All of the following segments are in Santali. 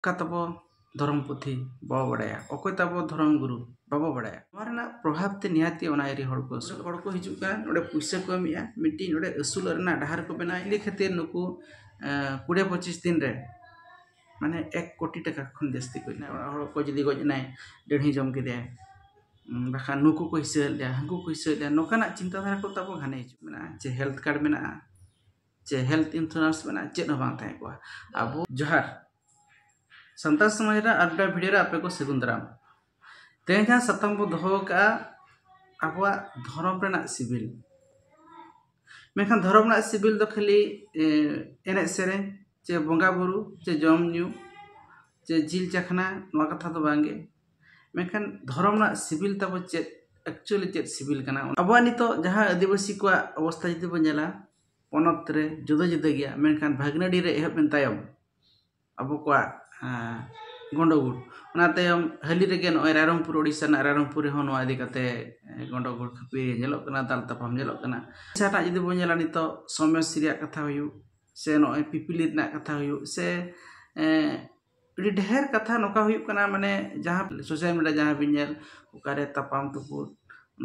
ᱚᱠᱟ ᱛᱟᱵᱚ ᱫᱷᱚᱨᱚᱢ ᱯᱩᱛᱷᱤ ᱵᱟᱵᱚ ᱵᱟᱲᱟᱭᱟ ᱚᱠᱚᱭ ᱛᱟᱵᱚ ᱫᱷᱚᱨᱚᱢ ᱜᱩᱨᱩ ᱵᱟᱵᱚ ᱵᱟᱲᱟᱭᱟ ᱱᱚᱣᱟ ᱨᱮᱱᱟᱜ ᱯᱨᱚᱵᱷᱟᱵᱽ ᱛᱮ ᱱᱤᱦᱟᱹᱛ ᱜᱮ ᱚᱱᱟ ᱮᱨᱤᱭᱟ ᱦᱚᱲ ᱠᱚ ᱟᱹᱥᱩᱞᱚᱜ ᱦᱚᱲ ᱠᱚ ᱦᱤᱡᱩᱜ ᱠᱟᱱ ᱱᱚᱰᱮ ᱯᱩᱭᱥᱟᱹ ᱠᱚ ᱮᱢᱮᱜᱼᱟ ᱢᱤᱫᱴᱤᱡ ᱱᱚᱰᱮ ᱟᱹᱥᱩᱞᱚᱜ ᱨᱮᱱᱟᱜ ᱰᱟᱦᱟᱨ ᱠᱚ ᱵᱮᱱᱟᱣᱮᱜᱼᱟ ᱤᱱᱟᱹ ᱠᱷᱟᱹᱛᱤᱨ ᱱᱩᱠᱩ ᱠᱩᱲᱤ ᱯᱚᱸᱪᱤᱥ ᱫᱤᱱ ᱨᱮ ᱢᱟᱱᱮ ᱮᱠ ᱠᱳᱴᱤ ᱴᱟᱠᱟ ᱠᱷᱚᱱ ᱡᱟᱹᱥᱛᱤ ᱠᱚ ᱦᱮᱡᱱᱟ ᱚᱲᱟᱜ ᱦᱚᱲ ᱠᱚ ᱡᱩᱫᱤ ᱜᱚᱡ ᱮᱱᱟᱭ ᱰᱟᱹᱲᱦᱤ ᱡᱚᱢ ᱠᱮᱫᱮᱭᱟᱭ ᱵᱟᱠᱷᱟᱱ ᱱᱩᱠᱩ ᱠᱚ ᱦᱤᱥᱟᱹ ᱞᱮᱫᱮᱭᱟ ᱦᱟᱹᱱᱠᱩ ᱠᱚ ᱦᱤᱥᱟᱹ ᱞᱮᱫᱮᱭᱟ ᱱᱚᱝᱠᱟᱱᱟᱜ ᱪᱤᱱᱛᱟᱹ ᱫᱷᱟᱨᱟ ᱠᱚ ᱛᱟᱵᱚ ᱜᱷᱟᱱᱮ ᱦᱤᱡᱩᱜ ᱠᱟᱱᱟ ᱡᱮ ᱦᱮᱞᱛᱷ ᱠᱟᱨᱰ ᱢᱮᱱᱟᱜᱼᱟ ᱪᱮ ᱦᱮᱞᱛᱷ ᱤᱱᱥᱩᱨᱮᱱᱥ ᱢᱮᱱᱟᱜᱼᱟ ᱪᱮᱫ ᱦᱚᱸ ᱵᱟᱝ ᱛᱟᱦᱮᱸ ᱠᱚᱜᱼᱟ ᱟᱵᱚ ᱡᱚᱦᱟᱨ ᱥᱟᱱᱛᱟᱲ ᱥᱚᱢᱟᱡᱽ ᱨᱮᱱᱟᱜ ᱟᱨ ᱢᱤᱫᱴᱟᱝ ᱵᱷᱤᱰᱤᱭᱳ ᱨᱮ ᱟᱯᱮ ᱠᱚ ᱥᱟᱹᱜᱩᱱ ᱫᱟᱨᱟᱢ ᱛᱮᱦᱮᱧ ᱡᱟᱦᱟᱸ ᱥᱟᱛᱟᱢ ᱵᱚ ᱫᱚᱦᱚ ᱟᱠᱟᱫᱼᱟ ᱟᱵᱚᱣᱟᱜ ᱫᱷᱚᱨᱚᱢ ᱨᱮᱱᱟᱜ ᱥᱤᱵᱤᱞ ᱢᱮᱱᱠᱷᱟᱱ ᱫᱷᱚᱨᱚᱢ ᱨᱮᱱᱟᱜ ᱥᱤᱵᱤᱞ ᱫᱚ ᱠᱷᱟᱹᱞᱤ ᱮᱱᱮᱡ ᱥᱮᱨᱮᱧ ᱪᱮ ᱵᱚᱸᱜᱟ ᱵᱩᱨᱩ ᱪᱮ ᱡᱚᱢ ᱧᱩ ᱪᱮ ᱡᱤᱞ ᱪᱟᱠᱷᱱᱟ ᱱᱚᱣᱟ ᱠᱟᱛᱷᱟ ᱫᱚ ᱵᱟᱝᱜᱮ ᱢᱮᱱᱠᱷᱟᱱ ᱫᱷᱚᱨᱚᱢ ᱨᱮᱱᱟᱜ ᱥᱤᱵᱤᱞ ᱛᱟᱵᱚ ᱪᱮᱫ ᱮᱠᱪᱩᱭᱮᱞᱤ ᱪᱮᱫ ᱥᱤᱵᱤᱞ ᱠᱟᱱᱟ ᱟᱵᱚᱣᱟᱜ ᱱᱤᱛᱚᱜ ᱡᱟᱦᱟᱸ ᱟᱹᱫᱤᱵᱟᱹᱥᱤ ᱠᱚᱣᱟᱜ ᱚᱵᱚᱥᱛᱷᱟ ᱡᱩᱫᱤ ᱵᱚᱱ ᱧᱮᱞᱟ ᱯᱚᱱᱚᱛ ᱨᱮ ᱡᱩᱫᱟᱹ ᱡᱩᱫᱟᱹ ᱜᱮᱭᱟ ᱢᱮᱱᱠᱷᱟᱱ ᱵᱷᱟᱹᱜᱽᱱᱟᱹᱰᱤ ᱨᱮ ᱮᱦᱚᱵ ᱮᱱ ᱛᱟᱭᱚᱢ ᱟᱵᱚ ᱠᱚᱣᱟᱜ ᱜᱚᱸᱰᱚᱜᱳᱲ ᱚᱱᱟ ᱛᱟᱭᱚᱢ ᱦᱟᱹᱞᱤ ᱨᱮᱜᱮ ᱱᱚᱜᱼᱚᱸᱭ ᱨᱟᱭᱨᱚᱝᱯᱩᱨ ᱳᱰᱤᱥᱟ ᱨᱮᱱᱟᱜ ᱨᱟᱭᱨᱚᱝᱯᱩᱨ ᱨᱮᱦᱚᱸ ᱱᱚᱣᱟ ᱤᱫᱤ ᱠᱟᱛᱮ ᱜᱚᱸᱰᱚᱜᱳᱲ ᱠᱷᱟᱹᱯᱟᱹᱨᱤ ᱧᱮᱞᱚᱜ ᱠᱟᱱᱟ ᱫᱟᱞ ᱛᱟᱯᱟᱢ ᱧᱮᱞᱚᱜ ᱠᱟᱱᱟ ᱳᱰᱤᱥᱟ ᱨᱮᱱᱟᱜ ᱡᱩᱫᱤ ᱵᱚᱱ ᱧᱮᱞᱟ ᱱᱤᱛᱚᱜ ᱥᱚᱢᱚᱥᱛᱤ ᱨᱮᱭᱟᱜ ᱠᱟᱛᱷᱟ ᱦᱩᱭᱩᱜ ᱥᱮ ᱱᱚᱜᱼᱚᱸᱭ ᱯᱤᱯᱤᱞᱤ ᱨᱮᱱᱟᱜ ᱠᱟᱛᱷᱟ ᱦᱩᱭᱩᱜ ᱥᱮ ᱟᱹᱰᱤ ᱰᱷᱮᱨ ᱠᱟᱛᱷᱟ ᱱᱚᱝᱠᱟ ᱦᱩᱭᱩᱜ ᱠᱟᱱᱟ ᱢᱟᱱᱮ ᱡᱟᱦᱟᱸ ᱥᱳᱥᱟᱞ ᱢᱤᱰᱤᱭᱟ ᱡᱟᱦᱟᱸ ᱵᱤᱱ ᱧᱮᱞ ᱚᱠᱟᱨᱮ ᱛᱟᱯᱟᱢ ᱛᱩᱯᱩᱫ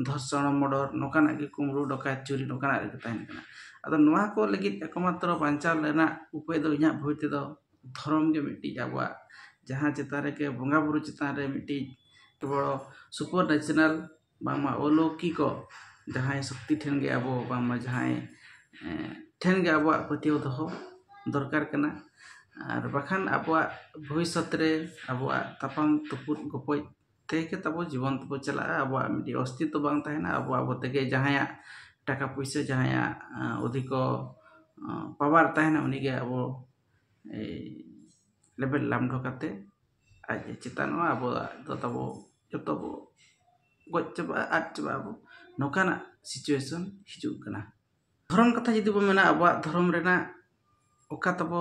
ᱫᱷᱚᱨᱥᱚᱱ ᱢᱚᱰᱚᱨ ᱱᱚᱝᱠᱟᱱᱟᱜ ᱜᱮ ᱠᱩᱢᱵᱽᱲᱩ ᱰᱚᱠᱟᱭᱛ ᱪᱩᱨᱤ ᱱᱚᱝᱠᱟᱱᱟᱜ ᱨᱮᱜᱮ ᱛᱟᱦᱮᱱ ᱠᱟᱱᱟ ᱟᱫᱚ ᱱᱚᱣᱟ ᱠᱚ ᱞᱟᱹᱜᱤᱫ ᱮᱠ ᱢᱟᱛᱨᱚ ᱵᱟᱧᱪᱟᱣ ᱨᱮᱱᱟᱜ ᱩᱯᱟᱹᱭ ᱫᱚ ᱤᱧᱟᱹᱜ ᱵᱩᱡᱽ ᱛᱮᱫᱚ ᱫᱷᱚᱨᱚᱢ ᱜᱮ ᱢᱤᱫᱴᱤᱡ ᱟᱵᱚᱣᱟᱜ ᱡᱟᱦᱟᱸ ᱪᱮᱛᱟᱱ ᱨᱮᱜᱮ ᱵᱚᱸᱜᱟᱼᱵᱩᱨᱩ ᱪᱮᱛᱟᱱ ᱨᱮ ᱢᱤᱫᱴᱤᱡ ᱟᱹᱰᱤ ᱵᱚᱲᱚ ᱥᱩᱯᱟᱨ ᱱᱮᱪᱟᱨᱟᱞ ᱵᱟᱝᱢᱟ ᱚᱞᱳᱠᱤᱠᱚ ᱡᱟᱦᱟᱸᱭ ᱥᱚᱠᱛᱤ ᱴᱷᱮᱱ ᱜᱮ ᱟᱵᱚ ᱵᱟᱝᱢᱟ ᱡᱟᱦᱟᱸᱭ ᱴᱷᱮᱱ ᱜᱮ ᱟᱵᱚᱣᱟᱜ ᱯᱟᱹᱛᱭᱟᱹᱣ ᱫᱚᱦᱚ ᱫᱚᱨᱠᱟᱨ ᱠᱟᱱᱟ ᱟᱨ ᱵᱟᱠᱷᱟᱱ ᱟᱵᱚᱣᱟᱜ ᱵᱷᱚᱵᱤᱥᱥᱚᱛ ᱨᱮ ᱟᱵᱚᱣᱟᱜ ᱛᱟᱯᱟᱢ ᱛᱩᱯᱩᱫ ᱜᱚᱯᱚᱡ ᱛᱮᱜᱮ ᱛᱟᱵᱚ ᱡᱤᱵᱚᱱ ᱛᱟᱵᱚ ᱪᱟᱞᱟᱜᱼᱟ ᱟᱵᱚᱣᱟᱜ ᱢᱤᱫᱴᱤᱡ ᱚᱥᱛᱤᱛᱛᱚ ᱵᱟᱝ ᱛᱟᱦᱮᱱᱟ ᱟᱵᱚ ᱟᱵᱚ ᱛᱮᱜᱮ ᱡᱟᱦᱟᱸᱭᱟᱜ ᱴᱟᱠᱟ ᱯᱩᱭᱥᱟᱹ ᱡᱟᱦᱟᱸᱭᱟᱜ ᱚᱫᱷᱤᱠᱚ ᱯᱟᱣᱟᱨ ᱛᱟᱦᱮᱱᱟ ᱩᱱᱤᱜᱮ ᱟᱵᱚ ᱞᱮᱵᱮᱫ ᱞᱟᱢᱰᱟᱣ ᱠᱟᱛᱮᱫ ᱟᱡ ᱮ ᱪᱮᱛᱟᱱᱚᱜᱼᱟ ᱟᱵᱚ ᱫᱚ ᱛᱟᱵᱚ ᱡᱚᱛᱚ ᱵᱚ ᱜᱚᱡ ᱪᱟᱵᱟᱜᱼᱟ ᱟᱫ ᱪᱟᱵᱟᱜ ᱟᱵᱚ ᱱᱚᱝᱠᱟᱱᱟᱜ ᱥᱤᱪᱩᱭᱮᱥᱚᱱ ᱦᱤᱡᱩᱜ ᱠᱟᱱᱟ ᱫᱷᱚᱨᱚᱢ ᱠᱟᱛᱷᱟ ᱡᱩᱫᱤ ᱵᱚᱱ ᱢᱮᱱᱟ ᱟᱵᱚᱣᱟᱜ ᱫᱷᱚᱨᱚᱢ ᱨᱮᱱᱟᱜ ᱚᱠᱟ ᱛᱟᱵᱚ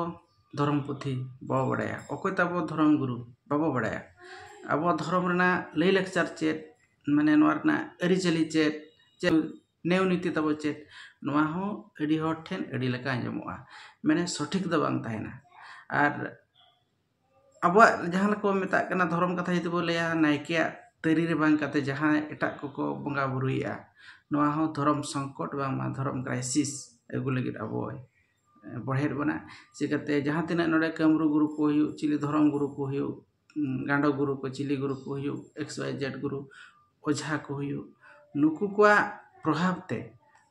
ᱫᱷᱚᱨᱚᱢ ᱯᱩᱛᱷᱤ ᱵᱟᱵᱚ ᱵᱟᱲᱟᱭᱟ ᱚᱠᱚᱭ ᱛᱟᱵᱚ ᱫᱷᱚᱨᱚᱢ ᱜᱩᱨᱩ ᱵᱟᱵᱚ ᱵᱟᱲᱟᱭᱟ ᱟᱵᱚᱣᱟᱜ ᱫᱷᱚᱨᱚᱢ ᱨᱮᱱᱟᱜ ᱞᱟᱹᱭᱼᱞᱟᱠᱪᱟᱨ ᱪᱮᱫ ᱢᱟᱱᱮ ᱱᱚᱣᱟ ᱨᱮᱱᱟᱜ ᱟᱹᱨᱤᱪᱟᱹᱞᱤ ᱪᱮᱫ ᱱᱤᱭᱚᱢᱼᱱᱤᱛᱤ ᱛᱟᱵᱚ ᱪᱮᱫ ᱱᱚᱣᱟ ᱦᱚᱸ ᱟᱹᱰᱤ ᱦᱚᱲ ᱴᱷᱮᱱ ᱟᱹᱰᱤ ᱞᱮᱠᱟ ᱟᱸᱡᱚᱢᱚᱜᱼᱟ ᱢᱟᱱᱮ ᱥᱚᱴᱷᱤᱠ ᱫᱚ ᱵᱟᱝ ᱛᱟᱦᱮᱱᱟ ᱟᱨ ᱟᱵᱚᱣᱟᱜ ᱡᱟᱦᱟᱸ ᱞᱮᱠᱟ ᱵᱚᱱ ᱢᱮᱛᱟᱜ ᱠᱟᱱᱟ ᱫᱷᱚᱨᱚᱢ ᱠᱟᱛᱷᱟ ᱡᱩᱫᱤ ᱵᱚᱱ ᱞᱟᱹᱭᱟ ᱱᱟᱭᱠᱮᱭᱟᱜ ᱛᱟᱹᱨᱤ ᱨᱮ ᱵᱟᱝ ᱠᱟᱛᱮᱫ ᱡᱟᱦᱟᱸᱭ ᱮᱴᱟᱜ ᱠᱚᱠᱚ ᱵᱚᱸᱜᱟᱼᱵᱩᱨᱩᱭᱮᱫᱼᱟ ᱱᱚᱣᱟ ᱦᱚᱸ ᱫᱷᱚᱨᱚᱢ ᱥᱚᱝᱠᱚᱴ ᱵᱟᱝᱢᱟ ᱫᱷᱚᱨᱚᱢ ᱠᱨᱟᱭᱥᱤᱥ ᱟᱹᱜᱩ ᱞᱟᱹᱜᱤᱫ ᱟᱵᱚᱭ ᱵᱚᱲᱦᱮᱭᱮᱫ ᱵᱚᱱᱟ ᱪᱤᱠᱟᱹᱛᱮ ᱡᱟᱦᱟᱸ ᱛᱤᱱᱟᱹᱜ ᱱᱚᱰᱮ ᱠᱟᱹᱢᱨᱩ ᱜᱩᱨᱩ ᱠᱚ ᱦᱩᱭᱩᱜ ᱪᱤᱞᱤ ᱫᱷᱚᱨᱚᱢ ᱜᱩᱨᱩ ᱠᱚ ᱦᱩᱭᱩᱜ ᱜᱟᱸᱰᱚ ᱜᱩᱨᱩ ᱠᱚ ᱪᱤᱞᱤ ᱜᱩᱨᱩ ᱠᱚ ᱦᱩᱭᱩᱜ ᱮᱠᱥ ᱚᱣᱟᱭ ᱡᱮᱰ ᱜᱩᱨᱩ ᱚᱡᱷᱟ ᱠᱚ ᱦᱩᱭᱩᱜ ᱱᱩᱠᱩ ᱠᱚᱣᱟᱜ ᱯᱨᱚᱵᱷᱟᱵᱽ ᱛᱮ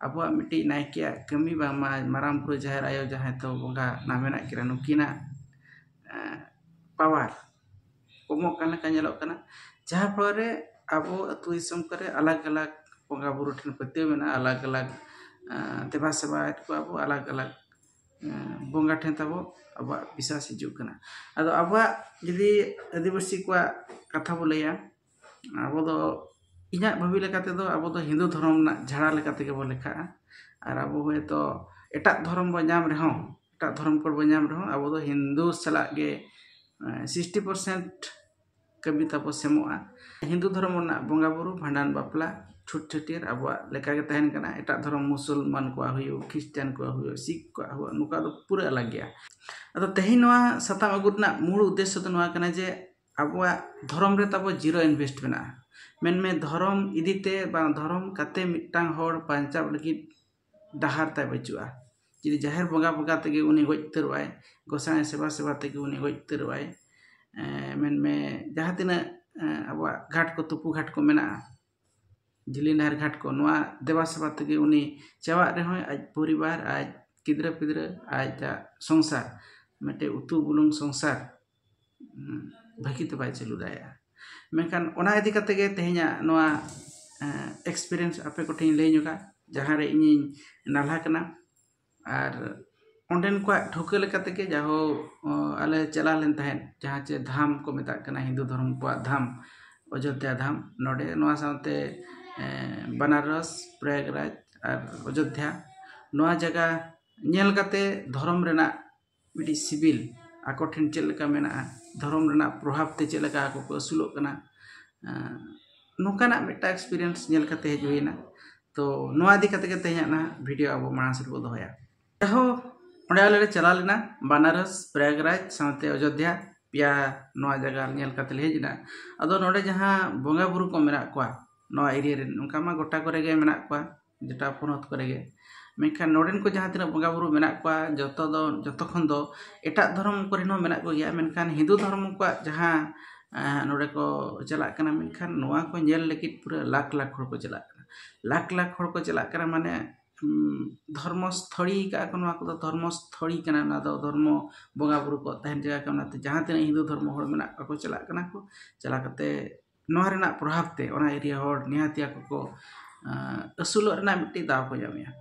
ᱟᱵᱚᱣᱟᱜ ᱢᱤᱫᱴᱤᱡ ᱱᱟᱭᱠᱮᱭᱟᱜ ᱠᱟᱹᱢᱤ ᱵᱟᱝᱢᱟ ᱢᱟᱨᱟᱝ ᱵᱩᱨᱩ ᱡᱟᱦᱮᱨ ᱟᱭᱳ ᱡᱟᱦᱟᱸᱭ ᱫᱚ ᱵᱚᱸᱜᱟ ᱱᱟᱜ ᱢᱮᱱᱟᱜ ᱠᱤᱱᱟ ᱱᱩᱠᱤᱱᱟᱜ ᱯᱟᱣᱟᱨ ᱠᱚᱢᱚᱜ ᱠᱟᱱ ᱞᱮᱠᱟ ᱧᱮᱞᱚᱜ ᱠᱟᱱᱟ ᱡᱟᱦᱟᱸ ᱯᱷᱚᱞᱚ ᱨᱮ ᱟᱵᱚ ᱟᱛᱳ ᱫᱤᱥᱚᱢ ᱠᱚᱨᱮ ᱟᱞᱟᱜᱽ ᱟᱞᱟᱜᱽ ᱵᱚᱸᱜᱟ ᱵᱩᱨᱩ ᱴᱷᱮᱱ ᱯᱟᱹᱛᱭᱟᱹᱣ ᱢᱮᱱᱟᱜᱼᱟ ᱟᱞᱟᱜᱽ ᱟᱞᱟᱜᱽ ᱫᱮᱵᱟ ᱥᱮᱵᱟᱭᱮᱫ ᱠᱚᱣᱟ ᱵᱚᱱ ᱟᱞᱟᱜᱽ ᱟᱞᱟᱜᱽ ᱵᱚᱸᱜᱟ ᱴᱷᱮᱱ ᱛᱟᱵᱚ ᱟᱵᱚᱣᱟᱜ ᱵᱤᱥᱟᱥ ᱦᱤᱡᱩᱜ ᱠᱟᱱᱟ ᱟᱫᱚ ᱟᱵᱚᱣᱟᱜ ᱡᱩᱫᱤ ᱟᱹᱫᱤᱵᱟᱹᱥᱤ ᱠᱚᱣᱟᱜ ᱠᱟᱛᱷᱟ ᱵᱚᱱ ᱞᱟᱹᱭᱟ ᱟᱵᱚ ᱫᱚ ᱤᱧᱟᱹᱜ ᱵᱷᱟᱹᱵᱤ ᱞᱮᱠᱟ ᱛᱮᱫᱚ ᱟᱵᱚ ᱫᱚ ᱦᱤᱱᱫᱩ ᱫᱷᱚᱨᱚᱢ ᱨᱮᱱᱟᱜ ᱡᱷᱟᱲᱟ ᱞᱮᱠᱟ ᱛᱮᱜᱮ ᱵᱚᱱ ᱞᱮᱠᱷᱟᱜᱼᱟ ᱟᱨ ᱟᱵᱚ ᱦᱚᱭᱛᱳ ᱮᱴᱟᱜ ᱫᱷᱚᱨᱚᱢ ᱵᱚᱱ ᱧᱟᱢ ᱨᱮᱦᱚᱸ ᱮᱴᱟᱜ ᱫᱷᱚᱨᱚᱢ ᱠᱳᱰ ᱵᱚᱱ ᱧᱟᱢ ᱨᱮᱦᱚᱸ ᱟᱵᱚ ᱫᱚ ᱦᱤᱱᱫᱩ ᱥᱟᱞᱟᱜ ᱜᱮ ᱥᱤᱠᱥᱴᱤ ᱯᱟᱨᱥᱮᱱᱴ ᱠᱟᱹᱢᱤ ᱛᱟᱵᱚ ᱥᱮᱢᱚᱜᱼᱟ ᱦᱤᱱᱫᱩ ᱫᱷᱚᱨᱚᱢ ᱨᱮᱱᱟᱜ ᱵᱚᱸᱜᱟᱼᱵᱩᱨᱩ ᱵᱷᱟᱸᱰᱟᱱ ᱵᱟᱯᱞᱟ ᱪᱷᱩᱛ ᱪᱷᱟᱹᱴᱭᱟᱹᱨ ᱟᱵᱚᱣᱟᱜ ᱞᱮᱠᱟᱜᱮ ᱛᱟᱦᱮᱱ ᱠᱟᱱᱟ ᱮᱴᱟᱜ ᱫᱷᱚᱨᱚᱢ ᱢᱩᱥᱚᱞᱢᱟᱱ ᱠᱚᱣᱟᱜ ᱦᱩᱭᱩᱜ ᱠᱷᱨᱤᱥᱴᱟᱱ ᱠᱚᱣᱟᱜ ᱦᱩᱭᱩᱜ ᱥᱤᱠᱷ ᱠᱚᱣᱟᱜ ᱦᱩᱭᱩᱜ ᱱᱚᱝᱠᱟ ᱫᱚ ᱯᱩᱨᱟᱹ ᱟᱞᱟᱜᱽ ᱜᱮᱭᱟ ᱟᱫᱚ ᱛᱮᱦᱮᱧ ᱱᱚᱣᱟ ᱥᱟᱛᱟᱢ ᱟᱹᱜᱩ ᱨᱮᱱᱟᱜ ᱢᱩᱬ ᱩᱫᱽᱫᱮᱥᱥᱚ ᱫᱚ ᱱᱚᱣᱟ ᱠᱟᱱᱟ ᱡᱮ ᱟᱵᱚᱣᱟᱜ ᱫᱷᱚᱨᱚᱢ ᱨᱮ ᱛᱟᱵᱚ ᱡᱤᱨᱳ ᱤᱱᱵᱷᱮᱥᱴ ᱢᱮᱱᱟᱜᱼᱟ ᱢᱮᱱᱢᱮ ᱫᱷᱚᱨᱚᱢ ᱤᱫᱤ ᱛᱮ ᱵᱟᱝ ᱫᱷᱚᱨᱚᱢ ᱠᱟᱛᱮ ᱢᱤᱫᱴᱟᱝ ᱦᱚᱲ ᱵᱟᱧᱪᱟᱜ ᱞᱟᱹᱜᱤᱫ ᱰᱟᱦᱟᱨ ᱛᱟᱭ ᱵᱟᱹᱪᱩᱜᱼᱟ ᱡᱩᱫᱤ ᱡᱟᱦᱮᱨ ᱵᱚᱸᱜᱟ ᱵᱚᱸᱜᱟ ᱛᱮᱜᱮ ᱩᱱᱤ ᱜᱚᱡ ᱩᱛᱟᱹᱨᱚᱜᱼᱟᱭ ᱜᱚᱸᱥᱟᱭ ᱥᱮᱵᱟ ᱥᱮᱵᱟ ᱛᱮᱜᱮ ᱩᱱᱤ ᱜᱚᱡ ᱩᱛᱟᱹᱨᱚᱜᱼᱟᱭ ᱢᱮᱱᱢᱮ ᱡᱟᱦᱟᱸ ᱛᱤᱱᱟᱹᱜ ᱟᱵᱚᱣᱟᱜ ᱜᱷᱟᱴ ᱠᱚ ᱛᱩᱯᱩ ᱜᱷᱟᱴ ᱠᱚ ᱢᱮᱱᱟᱜᱼᱟ ᱡᱤᱞᱤᱧ ᱰᱟᱦᱟᱨ ᱜᱷᱟᱴ ᱠᱚ ᱱᱚᱣᱟ ᱫᱮᱵᱟ ᱥᱮᱵᱟ ᱛᱮᱜᱮ ᱩᱱᱤ ᱪᱟᱵᱟᱜ ᱨᱮᱦᱚᱸᱭ ᱟᱡ ᱯᱚᱨᱤᱵᱟᱨ ᱟᱡ ᱜᱤᱫᱽᱨᱟᱹ ᱯᱤᱫᱽᱨᱟᱹ ᱟᱡᱟᱜ ᱥᱚᱝᱥᱟᱨ ᱢᱤᱫᱴᱮᱡ ᱩᱛᱩ ᱵᱩᱞᱩᱝ ᱥᱚᱝᱥᱟᱨ ᱵᱷᱟᱹᱜᱤᱛᱮ ᱵᱟᱭ ᱪᱟᱹᱞᱩ ᱫᱟᱲᱮᱭᱟᱜᱼᱟ ᱢᱮᱱᱠᱷᱟᱱ ᱚᱱᱟ ᱤᱫᱤ ᱠᱟᱛᱮᱫ ᱜᱮ ᱛᱮᱦᱮᱧᱟᱜ ᱱᱚᱣᱟ ᱮᱠᱥᱯᱨᱤᱭᱮᱱᱥ ᱟᱯᱮ ᱠᱚᱴᱷᱮᱱ ᱤᱧ ᱞᱟᱹᱭ ᱧᱚᱜᱟ ᱡᱟᱦᱟᱸ ᱨᱮ ᱤᱧᱤᱧ ᱱᱟᱞᱦᱟ ᱠᱟᱱᱟ ᱟᱨ ᱚᱸᱰᱮᱱ ᱠᱚᱣᱟᱜ ᱴᱷᱟᱹᱣᱠᱟᱹ ᱞᱮᱠᱟ ᱛᱮᱜᱮ ᱡᱟᱭᱦᱳ ᱟᱞᱮ ᱪᱟᱞᱟᱣ ᱞᱮᱱ ᱛᱟᱦᱮᱸᱫ ᱡᱟᱦᱟᱸ ᱪᱮ ᱫᱷᱟᱢ ᱠᱚ ᱢᱮᱛᱟᱜ ᱠᱟᱱᱟ ᱦᱤᱱᱫᱩ ᱫᱷᱚᱨᱚᱢ ᱠᱚᱣᱟᱜ ᱫᱷᱟᱢ ᱚᱡᱳᱫᱽᱫᱷᱟ ᱫᱷᱟᱢ ᱱᱚᱰᱮ ᱱᱚᱣᱟ ᱥᱟᱶᱛᱮ ᱵᱟᱱᱟᱨᱚᱥ ᱯᱨᱚᱭᱟᱜᱽᱨᱟᱡᱽ ᱟᱨ ᱚᱡᱳᱫᱽᱫᱷᱟ ᱱᱚᱣᱟ ᱡᱟᱭᱜᱟ ᱧᱮᱞ ᱠᱟᱛᱮᱫ ᱫᱷᱚᱨᱚᱢ ᱨᱮᱱᱟᱜ ᱢᱤᱫᱴᱤᱡ ᱥᱤᱵᱤᱞ ᱟᱠᱚ ᱴᱷᱮᱱ ᱪᱮᱫ ᱞᱮᱠᱟ ᱢᱮᱱᱟᱜᱼᱟ ᱫᱷᱚᱨᱚᱢ ᱨᱮᱱᱟᱜ ᱯᱨᱚᱵᱷᱟᱵᱽ ᱛᱮ ᱪᱮᱫ ᱞᱮᱠᱟ ᱟᱠᱚ ᱠᱚ ᱟᱹᱥᱩᱞᱚᱜ ᱠᱟᱱᱟ ᱱᱚᱝᱠᱟᱱᱟᱜ ᱢᱤᱫᱴᱟᱝ ᱮᱠᱥᱯᱨᱤᱭᱮᱱᱥ ᱧᱮᱞ ᱠᱟᱛᱮ ᱦᱮᱡ ᱦᱩᱭᱱᱟ ᱛᱚ ᱱᱚᱣᱟ ᱤᱫᱤ ᱠᱟᱛᱮ ᱜᱮ ᱛᱮᱦᱮᱧᱟᱜ ᱱᱟᱦᱟᱜ ᱵᱷᱤᱰᱤᱭᱳ ᱟᱵᱚ ᱢᱟᱲᱟᱝ ᱥᱮᱫ ᱵᱚᱱ ᱫᱚᱦᱚᱭᱟ ᱡᱟᱦᱳ ᱚᱸᱰᱮ ᱟᱞᱮ ᱞᱮ ᱪᱟᱞᱟᱣ ᱞᱮᱱᱟ ᱵᱟᱱᱟᱨᱚᱥ ᱯᱨᱟᱭᱟᱜᱽᱨᱟᱡᱽ ᱥᱟᱶᱛᱮ ᱚᱡᱳᱫᱽᱫᱷᱟ ᱯᱮᱭᱟ ᱱᱚᱣᱟ ᱡᱟᱭᱜᱟ ᱧᱮᱞ ᱠᱟᱛᱮ ᱞᱮ ᱦᱮᱡ ᱮᱱᱟ ᱟᱫᱚ ᱱᱚᱰᱮ ᱡᱟᱦᱟᱸ ᱵᱚᱸᱜᱟ ᱵᱩᱨᱩ ᱠᱚ ᱢᱮᱱᱟᱜ ᱠᱚᱣᱟ ᱱᱚᱣᱟ ᱮᱨᱤᱭᱟ ᱨᱮᱱ ᱚᱱᱠᱟ ᱢᱟ ᱜᱚᱴᱟ ᱠᱚᱨᱮ ᱜᱮ ᱢᱮᱱᱟᱜ ᱠᱚᱣᱟ ᱡᱮᱴᱟ ᱯᱚᱱᱚᱛ ᱠᱚᱨᱮ ᱜᱮ ᱢᱮᱱᱠᱷᱟᱱ ᱱᱚᱰᱮᱱ ᱠᱚ ᱡᱟᱦᱟᱸ ᱛᱤᱱᱟᱹᱜ ᱵᱚᱸᱜᱟ ᱵᱩᱨᱩ ᱢᱮᱱᱟᱜ ᱠᱚᱣᱟ ᱡᱚᱛᱚ ᱫᱚ ᱡᱚᱛᱚ ᱠᱷᱚᱱ ᱫᱚ ᱮᱴᱟᱜ ᱫᱷᱚᱨᱚᱢ ᱠᱚᱨᱮᱱ ᱦᱚᱸ ᱢᱮᱱᱟᱜ ᱠᱚᱜᱮᱭᱟ ᱢᱮᱱᱠᱷᱟᱱ ᱦᱤᱱᱫᱩ ᱫᱷᱚᱨᱚᱢ ᱠᱚᱣᱟᱜ ᱡᱟᱦᱟᱸ ᱱᱚᱰᱮ ᱠᱚ ᱪᱟᱞᱟᱜ ᱠᱟᱱᱟ ᱢᱮᱱᱠᱷᱟᱱ ᱱᱚᱣᱟ ᱠᱚ ᱧᱮᱞ ᱞᱟᱹᱜᱤᱫ ᱯᱩᱨᱟᱹ ᱞᱟᱠᱷ ᱞᱟᱠᱷ ᱦᱚᱲ ᱠᱚ ᱪᱟᱞᱟᱜ ᱠᱟᱱᱟ ᱞᱟᱠᱷ ᱞᱟᱠᱷ ᱦᱚᱲ ᱠᱚ ᱪᱟᱞᱟᱜ ᱠᱟᱱᱟ ᱢᱟᱱᱮ ᱫᱷᱚᱨᱢᱚ ᱥᱛᱷᱚᱞᱤ ᱠᱟᱜᱼᱟ ᱠᱚ ᱱᱚᱣᱟ ᱠᱚᱫᱚ ᱫᱷᱚᱨᱢᱚ ᱥᱛᱷᱚᱞᱤ ᱠᱟᱱᱟ ᱱᱚᱣᱟ ᱫᱚ ᱫᱷᱚᱨᱢᱚ ᱵᱚᱸᱜᱟ ᱵᱩᱨᱩ ᱠᱚᱣᱟᱜ ᱛᱟᱦᱮᱱ ᱡᱟᱭᱜᱟ ᱠᱟᱱᱟ ᱚᱱᱟᱛᱮ ᱡᱟᱦᱟᱸ ᱛᱤᱱᱟᱹᱜ ᱦᱤᱱᱫᱩ ᱫᱷᱚᱨᱢᱚ ᱦᱚᱲ ᱢᱮᱱᱟᱜ ᱠᱚᱣᱟ ᱠᱚ ᱪᱟᱞᱟᱜ ᱠᱟᱱᱟ ᱠᱚ ᱪᱟᱞᱟᱣ ᱠᱟᱛᱮᱫ ᱱᱚᱣᱟ ᱨᱮᱱᱟᱜ ᱯᱨᱚᱵᱷᱟᱵᱽ ᱛᱮ ᱚᱱᱟ ᱮᱨᱤᱭᱟ ᱦᱚᱲ ᱱᱤᱦᱟᱹᱛᱤ ᱟᱠᱚ ᱠᱚ ᱟᱹᱥᱩᱞᱚᱜ ᱨᱮᱱᱟᱜ ᱢᱤᱫᱴᱤᱡ ᱫᱟᱣ ᱠᱚ ᱧᱟᱢᱮᱜᱼᱟ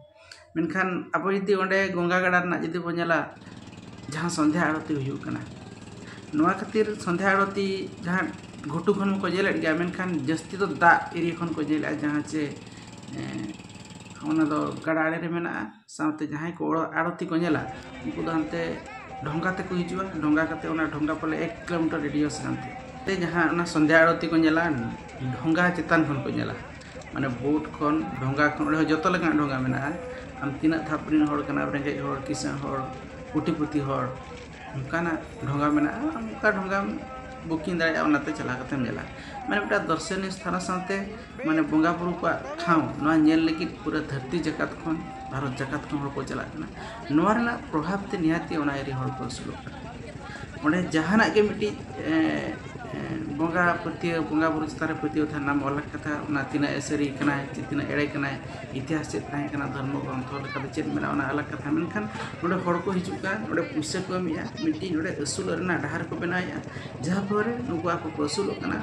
ᱢᱮᱱᱠᱷᱟᱱ ᱟᱵᱚ ᱡᱩᱫᱤ ᱚᱸᱰᱮ ᱜᱚᱝᱜᱟ ᱜᱟᱰᱟ ᱨᱮᱱᱟᱜ ᱡᱩᱫᱤ ᱵᱚᱱ ᱧᱮᱞᱟ ᱡᱟᱦᱟᱸ ᱥᱚᱱᱫᱷᱟ ᱟᱲᱛᱤ ᱦᱩᱭᱩᱜ ᱠᱟᱱᱟ ᱱᱚᱣᱟ ᱠᱷᱟᱹᱛᱤᱨ ᱥᱚᱱᱫᱷᱟ ᱟᱲᱛᱤ ᱡᱟᱦᱟᱸ ᱜᱷᱩᱴᱩ ᱠᱷᱚᱱ ᱦᱚᱸᱠᱚ ᱧᱮᱞᱮᱫ ᱜᱮᱭᱟ ᱢᱮᱱᱠᱷᱟᱱ ᱡᱟᱹᱥᱛᱤ ᱫᱚ ᱫᱟᱜ ᱮᱨᱤᱭᱟ ᱠᱷᱚᱱ ᱠᱚ ᱧᱮᱞᱮᱜᱼᱟ ᱡᱟᱦᱟᱸ ᱪᱮ ᱚᱱᱟ ᱫᱚ ᱜᱟᱰᱟ ᱟᱬᱮ ᱨᱮ ᱢᱮᱱᱟᱜᱼᱟ ᱥᱟᱶᱛᱮ ᱡᱟᱦᱟᱸᱭ ᱠᱚ ᱟᱲᱚᱛᱤ ᱠᱚ ᱧᱮᱞᱟ ᱩᱱᱠᱩ ᱫᱚ ᱦᱟᱱᱛᱮ ᱰᱷᱚᱸᱜᱟ ᱛᱮᱠᱚ ᱦᱤᱡᱩᱜᱼᱟ ᱰᱷᱚᱸᱜᱟ ᱠᱟᱛᱮ ᱚᱱᱟ ᱰᱷᱚᱸᱜᱟ ᱯᱟᱞᱮ ᱮᱠ ᱠᱤᱞᱳᱢᱤᱴᱟᱨ ᱨᱮᱰᱤᱭᱳᱥ ᱠᱟᱱ ᱛᱮ ᱛᱮ ᱡᱟᱦᱟᱸ ᱚᱱᱟ ᱥᱚᱱᱫᱷᱟ ᱟᱲᱚᱛᱤ ᱠᱚ ᱧᱮᱞᱟ ᱰᱷᱚᱸᱜᱟ ᱪᱮᱛᱟᱱ ᱠᱷᱚᱱ ᱠᱚ ᱧᱮᱞᱟ ᱢᱟᱱᱮ ᱵᱳᱴ ᱠᱷᱚᱱ ᱰᱷᱚᱸᱜᱟ ᱠᱷᱚᱱ ᱚᱸᱰᱮ ᱦᱚᱸ ᱡᱚᱛᱚ ᱞᱮᱠᱟᱱᱟᱜ ᱰᱷᱚᱸᱜᱟ ᱢᱮᱱᱟᱜᱼᱟ ᱟᱢ ᱛᱤᱱᱟᱹᱜ ᱫᱷᱟᱯ ᱨᱮᱱ ᱦᱚᱲ ᱠᱟᱱᱟᱢ ᱨᱮᱸᱜᱮᱡ ᱦᱚᱲ ᱠᱤᱥᱟᱹᱬ ᱦᱚᱲ ᱠᱳᱴᱤᱯᱚᱛᱤ ᱦᱚᱲ ᱚᱱᱠᱟᱱᱟᱜ ᱰᱷᱚᱸᱜᱟ ᱢᱮᱱᱟᱜᱼᱟ ᱚᱱᱠᱟ ᱰᱷᱚᱸᱜᱟᱢ ᱵᱩᱠᱤᱝ ᱫᱟᱲᱮᱭᱟᱜᱼᱟ ᱚᱱᱟᱛᱮ ᱪᱟᱞᱟᱣ ᱠᱟᱛᱮᱢ ᱧᱮᱞᱟ ᱢᱟᱱᱮ ᱢᱤᱫᱴᱟᱝ ᱫᱚᱨᱥᱚᱱᱤᱭᱚ ᱥᱛᱷᱟᱱ ᱥᱟᱶᱛᱮ ᱢᱟᱱᱮ ᱵᱚᱸᱜᱟ ᱵᱩᱨᱩ ᱠᱚᱣᱟᱜ ᱴᱷᱟᱶ ᱱᱚᱣᱟ ᱧᱮᱞ ᱞᱟᱹᱜᱤᱫ ᱯᱩᱨᱟᱹ ᱫᱷᱟᱹᱨᱛᱤ ᱡᱟᱠᱟᱛ ᱠᱷᱚᱱ ᱵᱷᱟᱨᱚᱛ ᱡᱟᱠᱟᱛ ᱠᱷᱚᱱ ᱦᱚᱲ ᱠᱚ ᱪᱟᱞᱟᱜ ᱠᱟᱱᱟ ᱱᱚᱣᱟ ᱨᱮᱱᱟᱜ ᱯᱨᱚᱵᱷᱟᱵᱽ ᱛᱮ ᱱᱤᱦᱟᱹᱛ ᱜᱮ ᱚᱱᱟ ᱮᱨᱤᱭᱟ ᱦᱚᱲ ᱠᱚ ᱟᱹᱥᱩᱞᱚᱜ ᱠᱟᱱᱟ ᱚᱸᱰᱮ ᱡᱟᱦᱟᱱᱟᱜ ᱜᱮ ᱢᱤᱫᱴᱤᱡ ᱵᱚᱸᱜᱟ ᱯᱟᱹᱛᱭᱟᱹᱣ ᱵᱚᱸᱜᱟ ᱵᱩᱨᱩ ᱪᱮᱛᱟᱱ ᱨᱮ ᱯᱟᱹᱛᱭᱟᱹᱣ ᱛᱟᱦᱮᱱ ᱢᱟ ᱚᱞ ᱟᱠᱟᱫᱟ ᱚᱱᱟ ᱛᱤᱱᱟᱹᱜ ᱮ ᱥᱟᱹᱨᱤ ᱠᱟᱱᱟᱭ ᱥᱮ ᱛᱤᱱᱟᱹᱜ ᱮᱲᱮ ᱠᱟᱱᱟᱭ ᱤᱛᱤᱦᱟᱥ ᱪᱮᱫ ᱛᱟᱦᱮᱸ ᱠᱟᱱᱟ ᱫᱷᱚᱨᱢᱚ ᱜᱨᱚᱱᱛᱷᱚ ᱞᱮᱠᱟᱛᱮ ᱪᱮᱫ ᱢᱮᱱᱟᱜᱼᱟ ᱚᱱᱟ ᱟᱞᱟᱜᱽ ᱠᱟᱛᱷᱟ ᱢᱮᱱᱠᱷᱟᱱ ᱱᱚᱰᱮ ᱦᱚᱲ ᱠᱚ ᱦᱤᱡᱩᱜ ᱠᱟᱱ ᱱᱚᱰᱮ ᱯᱩᱭᱥᱟᱹ ᱠᱚ ᱮᱢᱮᱜᱼᱟ ᱢᱤᱫᱴᱤᱡ ᱱᱚᱰᱮ ᱟᱹᱥᱩᱞᱚᱜ ᱨᱮᱱᱟᱜ ᱰᱟᱦᱟᱨ ᱠᱚ ᱵᱮᱱᱟᱣᱮᱜᱼᱟ ᱡᱟᱦᱟᱸ ᱯᱷᱚᱞᱚᱨᱮ ᱱᱩᱠᱩ ᱟᱠᱚ ᱠᱚ ᱟᱹᱥᱩᱞᱚᱜ ᱠᱟᱱᱟ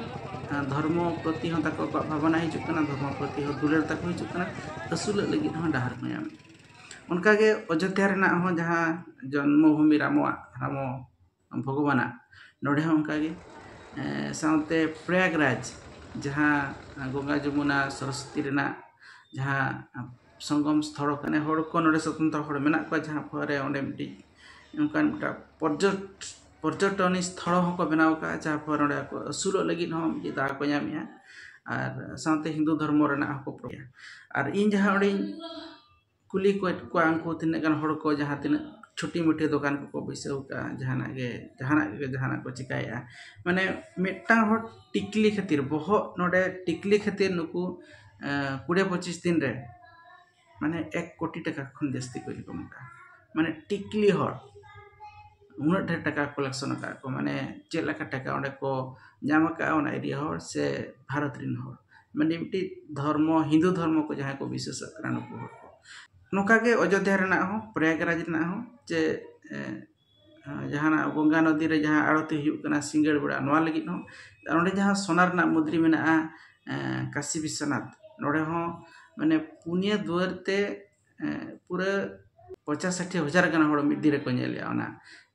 ᱟᱨ ᱫᱷᱚᱨᱢᱚ ᱯᱨᱚᱛᱤ ᱦᱚᱸ ᱛᱟᱠᱚ ᱟᱠᱚᱣᱟᱜ ᱵᱷᱟᱵᱽᱱᱟ ᱦᱤᱡᱩᱜ ᱠᱟᱱᱟ ᱫᱷᱚᱨᱢᱚ ᱯᱨᱚᱛᱤ ᱦᱚᱸ ᱫᱩᱞᱟᱹᱲ ᱛᱟᱠᱚ ᱦᱤᱡᱩᱜ ᱠᱟᱱᱟ ᱟᱹᱥᱩᱞᱚᱜ ᱞᱟᱹᱜᱤᱫ ᱦᱚᱸ ᱰᱟᱦᱟᱨ ᱠᱚ ᱧᱟᱢᱮᱜᱼᱟ ᱚᱱᱠᱟᱜᱮ ᱚᱡᱳᱫᱽᱫᱷᱟ ᱨᱮᱱᱟᱜ ᱦᱚᱸ ᱡᱟᱦᱟᱸ ᱡᱚᱱᱢᱚ ᱵᱷᱩᱢᱤ ᱨᱟᱢᱚᱣᱟᱜ ᱨᱟᱢᱚ ᱵᱷᱚᱜᱚᱵᱟᱱᱟᱜ ᱱᱚᱰᱮ ᱦᱚᱸ ᱚᱱᱠᱟ ᱜᱮ ᱥᱟᱶᱛᱮ ᱯᱨᱚᱭᱟᱜᱽᱨᱟᱡᱽ ᱡᱟᱦᱟᱸ ᱜᱚᱝᱜᱟ ᱡᱚᱢᱩᱱᱟ ᱥᱚᱨᱚᱥᱚᱛᱤ ᱨᱮᱱᱟᱜ ᱡᱟᱦᱟᱸ ᱥᱚᱝᱜᱚᱢ ᱥᱛᱷᱚᱞ ᱠᱟᱱᱟ ᱦᱚᱲ ᱠᱚ ᱱᱚᱰᱮ ᱥᱚᱛᱚᱱᱛᱨᱚ ᱦᱚᱲ ᱢᱮᱱᱟᱜ ᱠᱚᱣᱟ ᱡᱟᱦᱟᱸ ᱯᱷᱚᱞᱮ ᱚᱸᱰᱮ ᱢᱤᱫᱴᱤᱡ ᱚᱱᱠᱟᱱ ᱢᱤᱫᱴᱟᱝ ᱯᱚᱨᱡᱚᱴᱚᱱᱤ ᱥᱛᱷᱚᱞ ᱦᱚᱸ ᱠᱚ ᱵᱮᱱᱟᱣ ᱠᱟᱜᱼᱟ ᱡᱟᱦᱟᱸ ᱯᱷᱚᱞᱮ ᱚᱸᱰᱮ ᱟᱠᱚ ᱟᱹᱥᱩᱞᱚᱜ ᱞᱟᱹᱜᱤᱫ ᱦᱚᱸ ᱢᱤᱫᱴᱤᱡ ᱫᱟᱣ ᱠᱚ ᱧᱟᱢᱮᱜᱼᱟ ᱟᱨ ᱥᱟᱶᱛᱮ ᱦᱤᱱᱫᱩ ᱫᱷᱚᱨᱢᱚ ᱨᱮᱱᱟᱜ ᱦᱚᱸᱠᱚ ᱯᱨᱚᱪᱟᱨᱟ ᱟᱨ ᱤᱧ ᱡᱟᱦᱟᱸ ᱚᱸᱰᱮᱧ ᱠᱩᱞᱤ ᱠᱚᱭᱮᱫ ᱠᱚᱣᱟ ᱩᱱᱠᱩ ᱛᱤᱱᱟᱹᱜ ᱜᱟᱱ ᱦᱚᱲ ᱠᱚ ᱡᱟᱦᱟᱸ ᱛᱤᱱᱟᱹᱜ ᱪᱷᱩᱴᱤ ᱢᱩᱴᱤ ᱫᱚᱠᱟᱱ ᱠᱚᱠᱚ ᱵᱟᱹᱭᱥᱟᱹᱣ ᱠᱟᱜᱼᱟ ᱡᱟᱦᱟᱱᱟᱜ ᱜᱮ ᱡᱟᱦᱟᱱᱟᱜ ᱜᱮ ᱡᱟᱦᱟᱱᱟᱜ ᱠᱚ ᱪᱤᱠᱟᱹᱭᱮᱫᱼᱟ ᱢᱟᱱᱮ ᱢᱤᱫᱴᱟᱱ ᱦᱚᱲ ᱴᱤᱠᱞᱤ ᱠᱷᱟᱹᱛᱤᱨ ᱵᱚᱦᱚᱜ ᱱᱚᱰᱮ ᱴᱤᱠᱞᱤ ᱠᱷᱟᱹᱛᱤᱨ ᱱᱩᱠᱩ ᱠᱩᱲᱤ ᱯᱚᱸᱪᱤᱥ ᱫᱤᱱ ᱨᱮ ᱢᱟᱱᱮ ᱮᱠ ᱠᱳᱴᱤ ᱴᱟᱠᱟ ᱠᱷᱚᱱ ᱡᱟᱹᱥᱛᱤ ᱠᱚ ᱤᱱᱠᱟᱢ ᱠᱟᱜᱼᱟ ᱢᱟᱱᱮ ᱴᱤᱠᱞᱤ ᱦᱚᱲ ᱩᱱᱟᱹᱜ ᱰᱷᱮᱨ ᱴᱟᱠᱟ ᱠᱟᱞᱮᱠᱥᱚᱱ ᱟᱠᱟᱫ ᱠᱚ ᱢᱟᱱᱮ ᱪᱮᱫ ᱞᱮᱠᱟ ᱴᱟᱠᱟ ᱚᱸᱰᱮ ᱠᱚ ᱧᱟᱢ ᱟᱠᱟᱫᱼᱟ ᱚᱱᱟ ᱮᱨᱤᱭᱟ ᱦᱚᱲ ᱥᱮ ᱵᱷᱟᱨᱚᱛ ᱨᱮᱱ ᱦᱚᱲ ᱢᱟᱱᱮ ᱢᱤᱫᱴᱤᱡ ᱫᱷᱚᱨᱢᱚ ᱦᱤᱱᱫᱩ ᱫᱷᱚᱨᱢᱚ ᱠᱚ ᱡᱟᱦᱟᱸᱭ ᱠᱚ ᱵᱤᱥᱥᱟᱹᱥᱟᱜ ᱠᱟᱱᱟ ᱱᱩᱠᱩ ᱦᱚᱲ ᱠᱚ ᱱᱚᱝᱠᱟ ᱜᱮ ᱚᱡᱳᱫᱽᱫᱷᱟ ᱨᱮᱱᱟᱜ ᱦᱚᱸ ᱯᱨᱚᱭᱟᱜᱽᱨᱟᱡᱽ ᱨᱮᱱᱟᱜ ᱦᱚᱸ ᱡᱮ ᱡᱟᱦᱟᱱᱟᱜ ᱜᱚᱝᱜᱟ ᱱᱚᱫᱤ ᱨᱮ ᱡᱟᱦᱟᱸ ᱟᱬᱚᱛᱤ ᱦᱩᱭᱩᱜ ᱠᱟᱱᱟ ᱥᱤᱸᱜᱟᱹᱲ ᱵᱮᱲᱟ ᱱᱚᱣᱟ ᱞᱟᱹᱜᱤᱫ ᱦᱚᱸ ᱟᱨ ᱚᱸᱰᱮ ᱡᱟᱦᱟᱸ ᱥᱳᱱᱟ ᱨᱮᱱᱟᱜ ᱢᱩᱫᱽᱨᱤ ᱢᱮᱱᱟᱜᱼᱟ ᱠᱟᱥᱤ ᱵᱤᱥᱥᱚᱱᱟᱛᱷ ᱱᱚᱰᱮ ᱦᱚᱸ ᱢᱟᱱᱮ ᱯᱩᱱᱭᱟᱹ ᱫᱩᱣᱟᱹᱨ ᱛᱮ ᱯᱩᱨᱟᱹ ᱯᱚᱧᱪᱟᱥ ᱥᱟᱴᱷᱤ ᱦᱟᱡᱟᱨ ᱜᱟᱱ ᱦᱚᱲ ᱢᱤᱫ ᱫᱤᱱ ᱨᱮᱠᱚ ᱧᱮᱞᱮᱜᱼᱟ ᱚᱱᱟ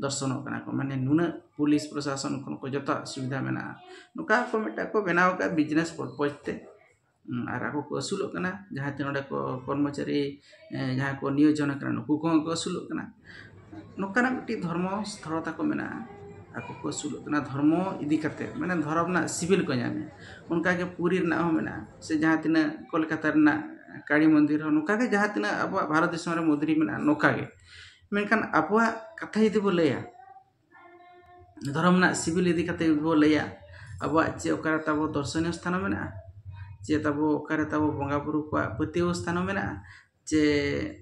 ᱫᱚᱨᱥᱚᱱᱚᱜ ᱠᱟᱱᱟ ᱠᱚ ᱢᱟᱱᱮ ᱱᱩᱱᱟᱹᱜ ᱯᱩᱞᱤᱥ ᱯᱨᱚᱥᱟᱥᱚᱱ ᱠᱷᱚᱱ ᱠᱚ ᱡᱚᱛᱚᱣᱟᱜ ᱥᱩᱵᱤᱫᱷᱟ ᱢᱮᱱᱟᱜᱼᱟ ᱱᱚᱝᱠᱟ ᱠᱚ ᱢᱤᱫᱴᱟᱝ ᱠᱚ ᱵᱮᱱᱟᱣ ᱠᱟᱜᱼᱟ ᱵᱤᱡᱽᱱᱮᱥ ᱯᱚᱨᱯᱚᱥ ᱛᱮ ᱟᱨ ᱟᱠᱚ ᱠᱚ ᱟᱹᱥᱩᱞᱚᱜ ᱠᱟᱱᱟ ᱡᱟᱦᱟᱸᱭ ᱛᱤᱱᱟᱹᱜ ᱚᱸᱰᱮ ᱠᱚ ᱠᱚᱨᱢᱚᱪᱟᱹᱨᱤ ᱡᱟᱦᱟᱸᱭ ᱠᱚ ᱱᱤᱭᱳᱡᱚᱱ ᱠᱟᱱᱟ ᱱᱩᱠᱩ ᱠᱚᱦᱚᱸ ᱠᱚ ᱟᱹᱥᱩᱞᱚᱜ ᱠᱟᱱᱟ ᱱᱚᱝᱠᱟᱱᱟᱜ ᱢᱤᱫᱴᱤᱡ ᱫᱷᱚᱨᱢᱚ ᱥᱛᱷᱚᱞ ᱛᱟᱠᱚ ᱢᱮᱱᱟᱜᱼᱟ ᱟᱠᱚ ᱠᱚ ᱟᱹᱥᱩᱞᱚᱜ ᱠᱟᱱᱟ ᱫᱷᱚᱨᱢᱚ ᱤᱫᱤ ᱠᱟᱛᱮᱫ ᱢᱟᱱᱮ ᱫᱷᱚᱨᱚᱢ ᱨᱮᱱᱟᱜ ᱥᱤᱵᱤᱞ ᱠᱚ ᱧᱟᱢᱮᱜᱼᱟ ᱚᱱᱠᱟ ᱜᱮ ᱯᱩᱨᱤ ᱨᱮᱱᱟᱜ ᱦᱚᱸ ᱢᱮᱱᱟᱜᱼᱟ ᱥᱮ ᱡᱟᱦᱟᱸ ᱛᱤᱱᱟᱹᱜ ᱠᱳᱞᱠᱟᱛᱟ ᱨᱮᱱᱟᱜ ᱠᱟᱹᱞᱤ ᱢᱚᱱᱫᱤᱨ ᱦᱚᱸ ᱱᱚᱝᱠᱟ ᱜᱮ ᱡᱟᱦᱟᱸ ᱛᱤᱱᱟᱹᱜ ᱟᱵᱚᱣᱟᱜ ᱵᱷᱟᱨᱚᱛ ᱫᱤᱥᱚᱢ ᱨᱮ ᱢᱚᱱᱫᱤᱨ ᱢᱮᱱᱟᱜᱼᱟ ᱱᱚᱝᱠᱟ ᱜᱮ ᱢᱮᱱᱠᱷᱟᱱ ᱟᱵᱚᱣᱟᱜ ᱠᱟᱛᱷᱟ ᱡᱩᱫᱤ ᱵᱚᱱ ᱞᱟᱹᱭᱟ ᱫᱷᱚᱨᱚᱢ ᱨᱮᱱᱟᱜ ᱥᱤᱵᱤᱞ ᱤᱫᱤ ᱠᱟᱛᱮᱫ ᱡᱩᱫᱤ ᱵᱚᱱ ᱞᱟᱹᱭᱟ ᱟᱵᱚᱣᱟᱜ ᱪᱮᱫ ᱚᱠᱟᱨᱮ ᱛᱟᱵᱚ ᱫᱚᱨᱥᱚᱱᱤᱭᱚ ᱥᱛᱷᱟᱱ ᱢᱮᱱᱟᱜᱼᱟ ᱪᱮᱫ ᱟᱵᱚ ᱚᱠᱟᱨᱮ ᱛᱟᱵᱚ ᱵᱚᱸᱜᱟᱼᱵᱩᱨᱩ ᱠᱚᱣᱟᱜ ᱯᱟᱹᱛᱭᱟᱹᱣ ᱥᱛᱷᱟᱱ ᱦᱚᱸ ᱢᱮᱱᱟᱜᱼᱟ ᱡᱮ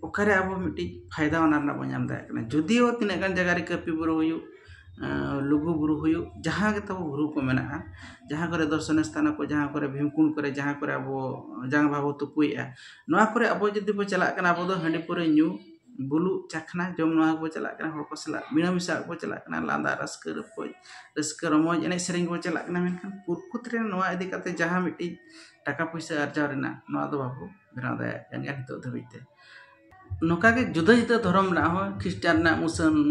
ᱚᱠᱟᱨᱮ ᱟᱵᱚ ᱢᱤᱫᱴᱤᱡ ᱯᱷᱟᱭᱫᱟ ᱚᱱᱟ ᱨᱮᱱᱟᱜ ᱵᱚᱱ ᱧᱟᱢ ᱫᱟᱲᱮᱭᱟᱜ ᱠᱟᱱᱟ ᱡᱩᱫᱤᱭᱳ ᱛᱤᱱᱟᱹᱜ ᱜᱟᱱ ᱡᱟᱭᱜᱟ ᱨᱮ ᱠᱟᱹᱯᱤ ᱵᱩᱨᱩ ᱦᱩᱭᱩᱜ ᱞᱩᱜᱩ ᱵᱩᱨᱩ ᱦᱩᱭᱩᱜ ᱡᱟᱦᱟᱸ ᱜᱮ ᱛᱟᱵᱚ ᱵᱩᱨᱩ ᱠᱚ ᱢᱮᱱᱟᱜᱼᱟ ᱡᱟᱦᱟᱸ ᱠᱚᱨᱮᱜ ᱫᱚᱨᱥᱚᱱᱤᱭᱚ ᱥᱛᱷᱟᱱᱚ ᱠᱚ ᱡᱟᱦᱟᱸ ᱠᱚᱨᱮᱜ ᱵᱷᱤᱢᱠᱩᱱᱰ ᱠᱚᱨᱮᱜ ᱡᱟᱦᱟᱸ ᱠᱚᱨᱮᱜ ᱟᱵᱚ ᱡᱟᱸᱜᱟ ᱵᱟᱵᱚ ᱛᱩᱯᱩᱭᱮᱜᱼᱟ ᱱᱚᱣᱟ ᱠᱚᱨᱮᱜ ᱟᱵᱚ ᱡᱩᱫᱤ ᱵᱚᱱ ᱪᱟᱞᱟᱜ ᱠᱟᱱᱟ ᱟᱵᱚ ᱫᱚ ᱦᱟᱺᱰᱤ ᱯᱟᱹᱣᱨᱟᱹ ᱧᱩ ᱵᱩᱞᱩᱜ ᱪᱟᱠᱷᱱᱟ ᱡᱚᱢ ᱱᱚᱣᱟ ᱠᱚᱵᱚᱱ ᱪᱟᱞᱟᱜ ᱠᱟᱱᱟ ᱦᱚᱲ ᱠᱚ ᱥᱟᱞᱟᱜ ᱢᱤᱞᱟᱹ ᱢᱮᱥᱟ ᱠᱚ ᱪᱟᱞᱟᱜ ᱠᱟᱱᱟ ᱞᱟᱸᱫᱟ ᱨᱟᱹᱥᱠᱟᱹ ᱨᱚᱯᱚᱡ ᱨᱟᱹᱥᱠᱟᱹ ᱨᱚᱢᱚᱡᱽ ᱮᱱᱮᱡ ᱥᱮᱨᱮᱧ ᱵᱚᱱ ᱪᱟᱞᱟᱜ ᱠᱟᱱᱟ ᱢᱮᱱᱠᱷᱟᱱ ᱯᱨᱚᱠᱩᱛ ᱨᱮ ᱱᱚᱣᱟ ᱤᱫᱤ ᱠᱟᱛᱮᱫ ᱡᱟᱦᱟᱸ ᱢᱤᱫᱴᱤᱡ ᱴᱟᱠᱟ ᱯᱩᱭᱥᱟᱹ ᱟᱨᱡᱟᱣ ᱨᱮᱱᱟᱜ ᱱᱚᱣᱟ ᱫᱚ ᱵᱟᱵᱚ ᱵᱮᱱᱟᱣ ᱫᱟᱲᱮᱭᱟᱜ ᱠᱟᱱ ᱜᱮᱭᱟ ᱱᱤᱛᱚᱜ ᱫᱷᱟᱹᱵᱤᱡ ᱛᱮ ᱱᱚᱝᱠᱟ ᱜᱮ ᱡᱩᱫᱟᱹ ᱡᱩᱫᱟᱹ ᱫᱷᱚᱨᱚᱢ ᱨᱮᱱᱟᱜ ᱦᱚᱸ ᱠᱷᱤᱥᱴᱟᱱ ᱨᱮᱱᱟᱜ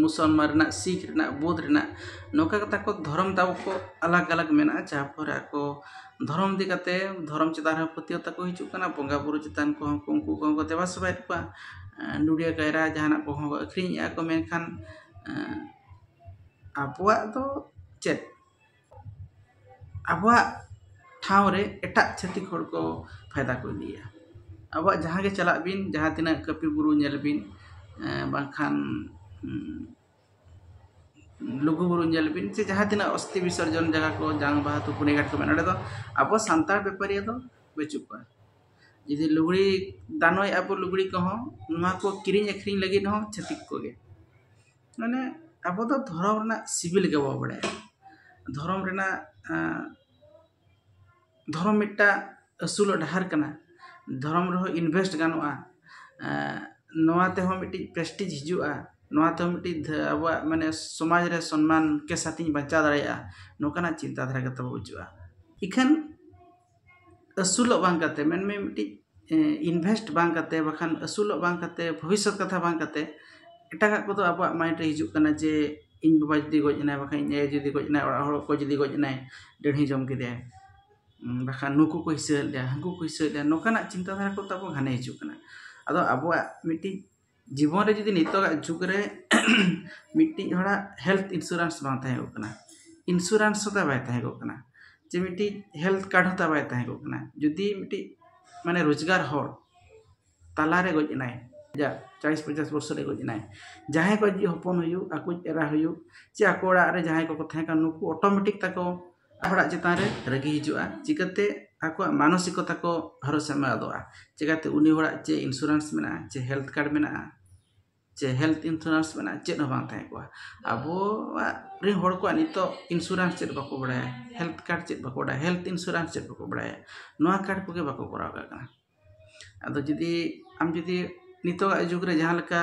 ᱢᱩᱥᱚᱞᱢᱟᱱ ᱨᱮᱱᱟᱜ ᱥᱤᱠᱷ ᱨᱮᱱᱟᱜ ᱵᱳᱫᱷ ᱨᱮᱱᱟᱜ ᱱᱚᱝᱠᱟ ᱠᱟᱛᱮᱫ ᱟᱠᱚ ᱫᱷᱚᱨᱚᱢ ᱛᱟᱵᱚ ᱠᱚ ᱟᱞᱟᱜᱽ ᱟᱞᱟᱜᱽ ᱢᱮᱱᱟᱜᱼᱟ ᱡᱟᱦᱟᱸ ᱯᱚᱨᱮ ᱟᱠᱚ ᱫᱷᱚᱨᱚᱢ ᱤᱫᱤ ᱠᱟᱛᱮᱫ ᱫᱷᱚᱨᱚᱢ ᱪᱮᱛᱟᱱ ᱨᱮᱦᱚᱸ ᱯᱟᱹᱛᱭᱟᱹᱣ ᱛᱟᱠᱚ ᱦᱤᱡᱩᱜ ᱠᱟᱱᱟ ᱵᱚᱸᱜᱟᱼᱵᱩᱨᱩ ᱪᱮᱛᱟᱱ ᱠᱚᱦᱚᱸ ᱠᱚ ᱩᱱᱠᱩ ᱠᱚᱦᱚᱸ ᱠᱚ ᱫᱮᱵᱟ ᱥᱮᱵᱟᱭᱮᱫ ᱠᱚᱣᱟ ᱱᱚᱰᱮ ᱠᱟᱭᱨᱟ ᱡᱟᱦᱟᱱᱟᱜ ᱠᱚᱦᱚᱸ ᱠᱚ ᱟᱹᱠᱷᱨᱤᱧᱮᱫᱼᱟ ᱠᱚ ᱢᱮᱱᱠᱷᱟᱱ ᱟᱵᱚᱣᱟᱜ ᱫᱚ ᱪᱮᱫ ᱟᱵᱚᱣᱟᱜ ᱴᱷᱟᱶ ᱨᱮ ᱮᱴᱟᱜ ᱪᱷᱟᱹᱛᱤᱠ ᱦᱚᱲ ᱠᱚ ᱯᱷᱟᱭᱫᱟ ᱠᱚ ᱤᱫᱤᱭᱟ ᱟᱵᱚᱣᱟᱜ ᱡᱟᱦᱟᱸ ᱜᱮ ᱪᱟᱞᱟᱜ ᱵᱤᱱ ᱡᱟᱦᱟᱸ ᱛᱤᱱᱟᱹᱜ ᱠᱟᱹᱯᱤ ᱵᱩᱨᱩ ᱧᱮᱞ ᱵᱤᱱ ᱵᱟᱝᱠᱷᱟᱱ ᱞᱩᱜᱩᱼᱵᱩᱨᱩ ᱧᱮᱞ ᱵᱤᱱ ᱥᱮ ᱡᱟᱦᱟᱸ ᱛᱤᱱᱟᱹᱜ ᱚᱥᱛᱷᱤ ᱵᱤᱥᱚᱨᱡᱚᱱ ᱡᱟᱭᱜᱟ ᱠᱚ ᱡᱟᱝ ᱵᱟᱦᱟ ᱛᱩᱯᱩᱱᱤ ᱜᱷᱟᱴ ᱠᱚ ᱢᱮᱱᱟᱜᱼᱟ ᱚᱸᱰᱮ ᱫᱚ ᱟᱵᱚ ᱥᱟᱱᱛᱟᱲ ᱵᱮᱯᱟᱨᱤᱭᱟᱹ ᱫᱚ ᱵᱟᱹᱪᱩᱜ ᱠᱚᱣᱟ ᱡᱩᱫᱤ ᱞᱩᱜᱽᱲᱤ ᱫᱟᱱᱚᱭᱮᱫᱼᱟ ᱵᱚᱱ ᱞᱩᱜᱽᱲᱤ ᱠᱚᱦᱚᱸ ᱱᱚᱣᱟ ᱠᱚ ᱠᱤᱨᱤᱧ ᱟᱹᱠᱷᱨᱤᱧ ᱞᱟᱹᱜᱤᱫ ᱦᱚᱸ ᱪᱷᱟᱹᱛᱤᱠ ᱠᱚᱜᱮ ᱢᱟᱱᱮ ᱟᱵᱚ ᱫᱚ ᱫᱷᱚᱨᱚᱢ ᱨᱮᱱᱟᱜ ᱥᱤᱵᱤᱞ ᱜᱮ ᱵᱟᱵᱚᱱ ᱵᱟᱲᱟᱭᱟ ᱫᱷᱚᱨᱚᱢ ᱨᱮᱱᱟᱜ ᱫᱷᱚᱨᱚᱢ ᱢᱤᱫᱴᱟᱝ ᱟᱹᱥᱩᱞᱚᱜ ᱰᱟᱦᱟᱨ ᱠᱟᱱᱟ ᱫᱷᱚᱨᱚᱢ ᱨᱮᱦᱚᱸ ᱤᱱᱵᱷᱮᱥᱴ ᱜᱟᱱᱚᱜᱼᱟ ᱱᱚᱣᱟ ᱛᱮᱦᱚᱸ ᱢᱤᱫᱴᱤᱡ ᱯᱨᱮᱥᱴᱤᱡᱽ ᱦᱤᱡᱩᱜᱼᱟ ᱱᱚᱣᱟ ᱛᱮᱦᱚᱸ ᱢᱤᱫᱴᱤᱡ ᱟᱵᱚᱣᱟᱜ ᱢᱟᱱᱮ ᱥᱚᱢᱟᱡᱽ ᱨᱮ ᱥᱚᱱᱢᱟᱱ ᱠᱮ ᱥᱟᱛᱷᱤᱧ ᱵᱟᱧᱪᱟᱣ ᱫᱟᱲᱮᱭᱟᱜᱼᱟ ᱱᱚᱝᱠᱟᱱᱟᱜ ᱪᱤᱱᱛᱟᱹ ᱫᱷᱟᱨᱟ ᱜᱮ ᱛᱟᱵᱚ ᱵᱟᱹᱪᱩᱜᱼᱟ ᱤᱠᱷᱟᱹᱱ ᱟᱹᱥᱩᱞᱚᱜ ᱵᱟᱝ ᱠᱟᱛᱮ ᱢᱮᱱ ᱢᱮ ᱢᱤᱫᱴᱤᱡ ᱤᱱᱵᱷᱮᱥᱴ ᱵᱟᱝ ᱠᱟᱛᱮ ᱵᱟᱠᱷᱟᱱ ᱟᱹᱥᱩᱞᱚᱜ ᱵᱟᱝ ᱠᱟᱛᱮ ᱵᱷᱚᱵᱤᱥᱥᱚᱛ ᱠᱟᱛᱷᱟ ᱵᱟᱝ ᱠᱟᱛᱮ ᱮᱴᱟᱜᱟᱜ ᱠᱚᱫᱚ ᱟᱵᱚᱣᱟᱜ ᱢᱟᱭᱤᱱᱰ ᱨᱮ ᱦᱤᱡᱩᱜ ᱠᱟᱱᱟ ᱡᱮ ᱤᱧ ᱵᱟᱵᱟ ᱡᱩᱫᱤ ᱜᱚᱡ ᱮᱱᱟᱭ ᱵᱟᱠᱷᱟᱱ ᱤᱧ ᱟᱭᱳ ᱡᱩᱫᱤ ᱜᱚᱡ ᱮᱱᱟᱭ ᱚᱲᱟᱜ ᱦᱚᱲ ᱚᱠᱚᱭ ᱡᱩᱫᱤ ᱜᱚᱡ ᱮᱱᱟᱭ ᱰᱟᱹᱲᱦᱤ ᱡᱚᱢ ᱠᱮᱫᱮᱭᱟᱭ ᱵᱟᱠᱷᱟᱱ ᱱᱩᱠᱩ ᱠᱚ ᱦᱤᱥᱟᱹ ᱞᱮᱫ ᱞᱮᱭᱟ ᱦᱟᱹᱱᱠᱩ ᱠᱚ ᱦᱤᱥᱟᱹ ᱞᱮᱫ ᱞᱮᱭᱟ ᱱᱚᱝᱠᱟᱱᱟᱜ ᱪᱤᱱᱛᱟᱹ ᱫᱷᱟᱨᱟ ᱠᱚ ᱛᱟᱵᱚ ᱜᱷᱟᱱᱮ ᱦᱤᱡᱩᱜ ᱠᱟᱱᱟ ᱟᱫᱚ ᱟᱵᱚᱣᱟᱜ ᱢᱤᱫᱴᱤᱡ ᱡᱤᱵᱚᱱ ᱨᱮ ᱡᱩᱫᱤ ᱱᱤᱛᱚᱜᱟᱜ ᱡᱩᱜᱽ ᱨᱮ ᱢᱤᱫᱴᱤᱡ ᱦᱚᱲᱟᱜ ᱦᱮᱞᱛᱷ ᱤᱱᱥᱩᱨᱮᱱᱥ ᱵᱟᱝ ᱛᱟᱦᱮᱸ ᱠᱚᱜ ᱠᱟᱱᱟ ᱤᱱᱥᱩᱨᱮᱱᱥ ᱦᱚᱸ ᱛᱟᱭ ᱵᱟᱭ ᱛᱟᱦᱮᱸ ᱠᱚᱜ ᱠᱟᱱᱟ ᱪᱮ ᱢᱤᱫᱴᱤᱡ ᱦᱮᱞᱛᱷ ᱠᱟᱨᱰ ᱦᱚᱸ ᱛᱟᱭ ᱵᱟᱭ ᱛᱟᱦᱮᱸ ᱠᱚᱜ ᱠᱟᱱᱟ ᱡᱩᱫᱤ ᱢᱤᱫᱴᱤᱡ ᱢᱟᱱᱮ ᱨᱳᱡᱽᱜᱟᱨ ᱦᱚᱲ ᱛᱟᱞᱟ ᱨᱮ ᱜᱚᱡ ᱮᱱᱟᱭ ᱟᱡᱟᱜ ᱪᱟᱞᱤᱥ ᱯᱚᱧᱪᱟᱥ ᱵᱚᱪᱷᱚᱨ ᱨᱮ ᱜᱚᱡ ᱮᱱᱟᱭ ᱡᱟᱦᱟᱸᱭ ᱠᱚ ᱟᱡᱤᱡ ᱦᱚᱯᱚᱱ ᱦᱩᱭᱩᱜ ᱟᱠᱚᱭᱤᱡ ᱮᱨᱟ ᱦᱩᱭᱩᱜ ᱪᱮ ᱟᱠᱚ ᱚᱲᱟᱜ ᱨᱮ ᱡᱟᱦᱟᱸᱭ ᱠᱚᱠᱚ ᱛᱟᱦᱮᱸ ᱠᱟᱱ ᱱᱩᱠᱩ ᱚᱴᱳᱢᱮᱴᱤᱠ ᱛᱟᱠᱚ ᱦᱚᱲᱟᱜ ᱪᱮᱛᱟᱱ ᱨᱮ ᱨᱟᱹᱜᱤ ᱦᱤᱡᱩᱜᱼᱟ ᱪᱤᱠᱟᱹᱛᱮ ᱟᱠᱚᱣᱟᱜ ᱢᱟᱱᱚᱥᱤᱠᱚᱛᱟ ᱠᱚ ᱵᱷᱚᱨᱚᱥᱟ ᱮᱢ ᱟᱫᱚᱜᱼᱟ ᱪᱤᱠᱟᱹᱛᱮ ᱩᱱᱤ ᱦᱚᱲᱟᱜ ᱪᱮᱫ ᱤᱱᱥᱩᱨᱮᱱᱥ ᱢᱮᱱᱟᱜᱼᱟ ᱪᱮ ᱦᱮᱞᱛᱷ ᱠᱟᱨᱰ ᱢᱮᱱᱟᱜᱼᱟ ᱪᱮ ᱦᱮᱞᱛᱷ ᱤᱱᱥᱩᱨᱮᱱᱥ ᱢᱮᱱᱟᱜᱼᱟ ᱪᱮᱫ ᱦᱚᱸ ᱵᱟᱝ ᱛᱟᱦᱮᱸ ᱠᱚᱜᱼᱟ ᱟᱵᱚᱣᱟᱜ ᱨᱮᱱ ᱦᱚᱲ ᱠᱚᱣᱟᱜ ᱱᱤᱛᱚᱜ ᱤᱱᱥᱩᱨᱮᱱᱥ ᱪᱮᱫ ᱵᱟᱠᱚ ᱵᱟᱲᱟᱭᱟ ᱦᱮᱞᱛᱷ ᱠᱟᱨᱰ ᱪᱮᱫ ᱵᱟᱠᱚ ᱵᱟᱲᱟᱭᱟ ᱦᱮᱞᱛᱷ ᱤᱱᱥᱩᱨᱮᱱᱥ ᱪᱮᱫ ᱵᱟᱠᱚ ᱵᱟᱲᱟᱭᱟ ᱱᱚᱣᱟ ᱠᱟᱨᱰ ᱠᱚᱜᱮ ᱵᱟᱠᱚ ᱠᱚᱨᱟᱣ ᱠᱟᱜ ᱠᱟᱱᱟ ᱟᱫᱚ ᱡᱩᱫᱤ ᱟᱢ ᱡᱩᱫᱤ ᱱᱤᱛᱚᱜᱟᱜ ᱡᱩᱜᱽ ᱨᱮ ᱡᱟᱦᱟᱸ ᱞᱮᱠᱟ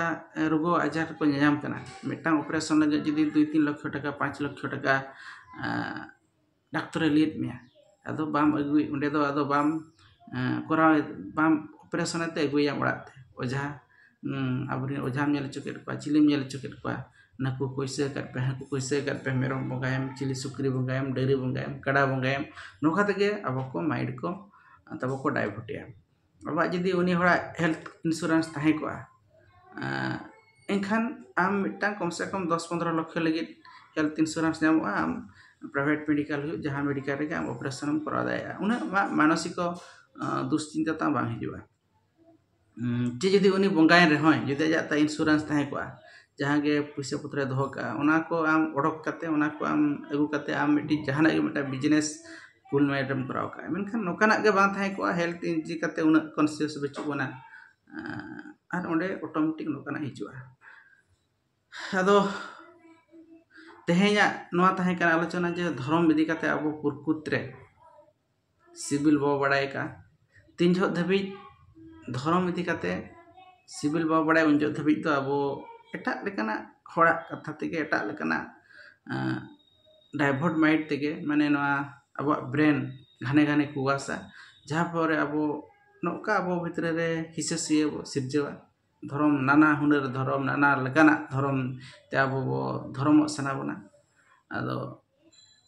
ᱨᱩᱣᱟᱹ ᱟᱡᱟᱨ ᱠᱚ ᱧᱟᱧᱟᱢ ᱠᱟᱱᱟ ᱢᱤᱫᱴᱟᱝ ᱚᱯᱟᱨᱮᱥᱚᱱ ᱞᱟᱹᱜᱤᱫ ᱡᱩᱫᱤ ᱫᱩᱭ ᱛᱤᱱ ᱞᱚᱠᱠᱷᱚ ᱴᱟᱠᱟ ᱯᱟᱸᱪ ᱞᱚᱠᱠᱷᱚ ᱴᱟᱠᱟ ᱰᱟᱠᱛᱚᱨᱮ ᱞᱟᱹᱭᱟᱫ ᱢᱮᱭᱟ ᱟᱫᱚ ᱵᱟᱢ ᱟᱹᱜᱩᱭ ᱚᱸᱰᱮ ᱫᱚ ᱟᱫᱚ ᱵᱟᱢ ᱠᱚᱨᱟᱣ ᱵᱟᱢ ᱚᱯᱟᱨᱮᱥᱚᱱ ᱛᱮ ᱟᱹᱜᱩᱭᱮᱭᱟᱢ ᱚᱲᱟᱜ ᱛᱮ ᱚᱡᱷᱟ ᱟᱵᱚ ᱨᱮᱱ ᱚᱡᱷᱟᱢ ᱧᱮᱞ ᱦᱚᱪᱚ ᱠᱮᱫ ᱠᱚᱣᱟ ᱪᱤᱞᱤᱢ ᱧᱮᱞ ᱦᱚᱪᱚ ᱠᱮᱫ ᱠᱚᱣᱟ ᱱᱟᱹᱠᱩ ᱠᱚ ᱦᱤᱥᱟᱹ ᱟᱠᱟᱫ ᱯᱮᱭᱟ ᱦᱟᱹᱠᱩ ᱠᱚ ᱦᱤᱥᱟᱹ ᱟᱠᱟᱫ ᱯᱮᱭᱟ ᱢᱮᱨᱚᱢ ᱵᱚᱸᱜᱟᱭᱮᱢ ᱪᱤᱞᱤ ᱥᱩᱠᱨᱤ ᱵᱚᱸᱜᱟᱭᱮᱢ ᱰᱟᱹᱝᱨᱤ ᱵᱚᱸᱜᱟᱭᱮᱢ ᱠᱟᱰᱟ ᱵᱚᱸᱜᱟᱭᱮᱢ ᱱᱚᱝᱠᱟ ᱛᱮᱜᱮ ᱟᱵᱚ ᱠᱚ ᱢᱟᱭᱤᱱᱰ ᱠᱚ ᱟᱫᱚ ᱵᱟᱠᱚ ᱰᱟᱭᱵᱷᱟᱨᱴ ᱮᱭᱟ ᱟᱵᱟᱨ ᱡᱩᱫᱤ ᱩᱱᱤ ᱦᱚᱲᱟᱜ ᱦᱮᱞᱛᱷ ᱤᱱᱥᱩᱨᱮᱱᱥ ᱛᱟᱦᱮᱸ ᱠᱚᱜᱼᱟ ᱮᱱᱠᱷᱟᱱ ᱟᱢ ᱢᱤᱫᱴᱟᱱ ᱠᱚᱢ ᱥᱮ ᱠᱚᱢ ᱫᱚᱥ ᱯᱚᱱᱨᱚ ᱞᱚᱠᱠᱷᱚ ᱞᱟᱹᱜᱤᱫ ᱦᱮᱞᱛᱷ ᱤᱱᱥᱩᱨᱮᱱᱥ ᱧᱟᱢᱚᱜᱼᱟ ᱟᱢ ᱯᱨᱟᱭᱵᱷᱮᱹᱴ ᱢᱮᱰᱤᱠᱮᱞ ᱦᱩᱭᱩᱜ ᱡᱟᱦᱟᱸ ᱢᱮᱰᱤᱠᱮᱞ ᱨᱮᱜᱮ ᱟᱢ ᱚᱯᱟᱨᱮᱥᱚᱱ ᱮᱢ ᱠᱚᱨᱟᱣ ᱫᱟᱲᱮᱭᱟᱜᱼᱟ ᱩᱱᱟᱹᱜ ᱟᱢᱟᱜ ᱢᱟᱱᱚᱥᱤᱠᱚ ᱫᱩᱥᱪᱤᱱᱛᱟᱹ ᱛᱟᱢ ᱵᱟᱝ ᱦᱤᱡᱩᱜᱼᱟ ᱪᱮᱫ ᱡᱩᱫᱤ ᱩᱱᱤ ᱵᱚᱸᱜᱟᱭᱮᱱ ᱨᱮᱦᱚᱸᱭ ᱡᱩᱫᱤ ᱟᱡᱟᱜ ᱛᱟᱭ ᱤᱱᱥᱩᱨᱮᱱᱥ ᱛᱟᱦᱮᱸ ᱠᱚᱜᱼᱟ ᱡᱟᱦᱟᱸ ᱜᱮ ᱯᱩᱭᱥᱟᱹ ᱯᱚᱛᱨᱚᱭ ᱫᱚᱦᱚ ᱠᱟᱜᱼᱟ ᱚᱱᱟ ᱠᱚ ᱟᱢ ᱚᱰᱚᱠ ᱠᱟᱛᱮᱫ ᱚᱱᱟ ᱠᱚ ᱟᱢ ᱟᱹᱜᱩ ᱠᱟᱛᱮᱫ ᱟᱢ ᱢᱤᱫᱴᱤᱡ ᱡᱟᱦᱟᱱᱟᱜ ᱜᱮ ᱢᱤᱫᱴᱟᱝ ᱵᱤᱡᱽᱱᱮᱥ ᱠᱩᱞ ᱢᱮᱨᱮᱴ ᱮᱢ ᱠᱚᱨᱟᱣ ᱠᱟᱜᱼᱟ ᱢᱮᱱᱠᱷᱟᱱ ᱱᱚᱝᱠᱟᱱᱟᱜ ᱜᱮ ᱵᱟᱝ ᱛᱟᱦᱮᱸ ᱠᱚᱜᱼᱟ ᱦᱮᱞᱛᱷ ᱤᱫᱤ ᱠᱟᱛᱮᱫ ᱩᱱᱟᱹᱜ ᱠᱚᱱᱥᱤᱭᱟᱥ ᱵᱟᱹᱪᱩᱜ ᱵᱚᱱᱟ ᱟᱨ ᱚᱸᱰᱮ ᱚᱴᱳᱢᱮᱴᱤᱠ ᱱᱚᱝᱠᱟᱱᱟᱜ ᱦᱤᱡᱩᱜᱼᱟ ᱟᱫᱚ ᱛᱮᱦᱮᱧᱟᱜ ᱱᱚᱣᱟ ᱛᱟᱦᱮᱸ ᱠᱟᱱᱟ ᱟᱞᱳᱪᱚᱱᱟ ᱡᱮ ᱫᱷᱚᱨᱚᱢ ᱤᱫᱤ ᱠᱟᱛᱮᱫ ᱟᱵᱚ ᱯᱨᱚᱠᱩᱛ ᱨᱮ ᱥᱤᱵᱤᱞ ᱵᱟᱵᱚ ᱵᱟᱲᱟᱭ ᱠᱟᱜᱼᱟ ᱛᱤᱱ ᱡᱚᱦᱚᱜ ᱫᱷᱟᱹᱵᱤᱡ ᱫᱷᱚᱨᱚᱢ ᱤᱫᱤ ᱠᱟᱛᱮ ᱥᱤᱵᱤᱞ ᱵᱟᱵᱚ ᱵᱟᱲᱟᱭᱟ ᱩᱱ ᱡᱚᱦᱚᱜ ᱫᱷᱟᱹᱵᱤᱡ ᱫᱚ ᱟᱵᱚ ᱮᱴᱟᱜ ᱞᱮᱠᱟᱱᱟᱜ ᱦᱚᱲᱟᱜ ᱠᱟᱛᱷᱟ ᱛᱮᱜᱮ ᱮᱴᱟᱜ ᱞᱮᱠᱟᱱᱟᱜ ᱰᱟᱭᱵᱷᱚᱴ ᱢᱟᱭᱤᱰ ᱛᱮᱜᱮ ᱢᱟᱱᱮ ᱱᱚᱣᱟ ᱟᱵᱚᱣᱟᱜ ᱵᱨᱮᱱ ᱜᱷᱟᱱᱮ ᱜᱷᱟᱱᱮ ᱠᱚ ᱚᱣᱟᱥᱟ ᱡᱟᱦᱟᱸ ᱯᱷᱚᱞᱚ ᱨᱮ ᱟᱵᱚ ᱱᱚᱝᱠᱟ ᱟᱵᱚ ᱵᱷᱤᱛᱨᱤ ᱨᱮ ᱦᱤᱥᱟᱹ ᱥᱩᱭᱟᱹ ᱵᱚ ᱥᱤᱨᱡᱟᱹᱣᱟ ᱫᱷᱚᱨᱚᱢ ᱱᱟᱱᱟ ᱦᱩᱱᱟᱹᱨ ᱫᱷᱚᱨᱚᱢ ᱱᱟᱱᱟ ᱞᱮᱠᱟᱱᱟᱜ ᱫᱷᱚᱨᱚᱢ ᱛᱮ ᱟᱵᱚ ᱵᱚ ᱫᱷᱚᱨᱚᱢᱚᱜ ᱥᱟᱱᱟ ᱵᱚᱱᱟ ᱟᱫᱚ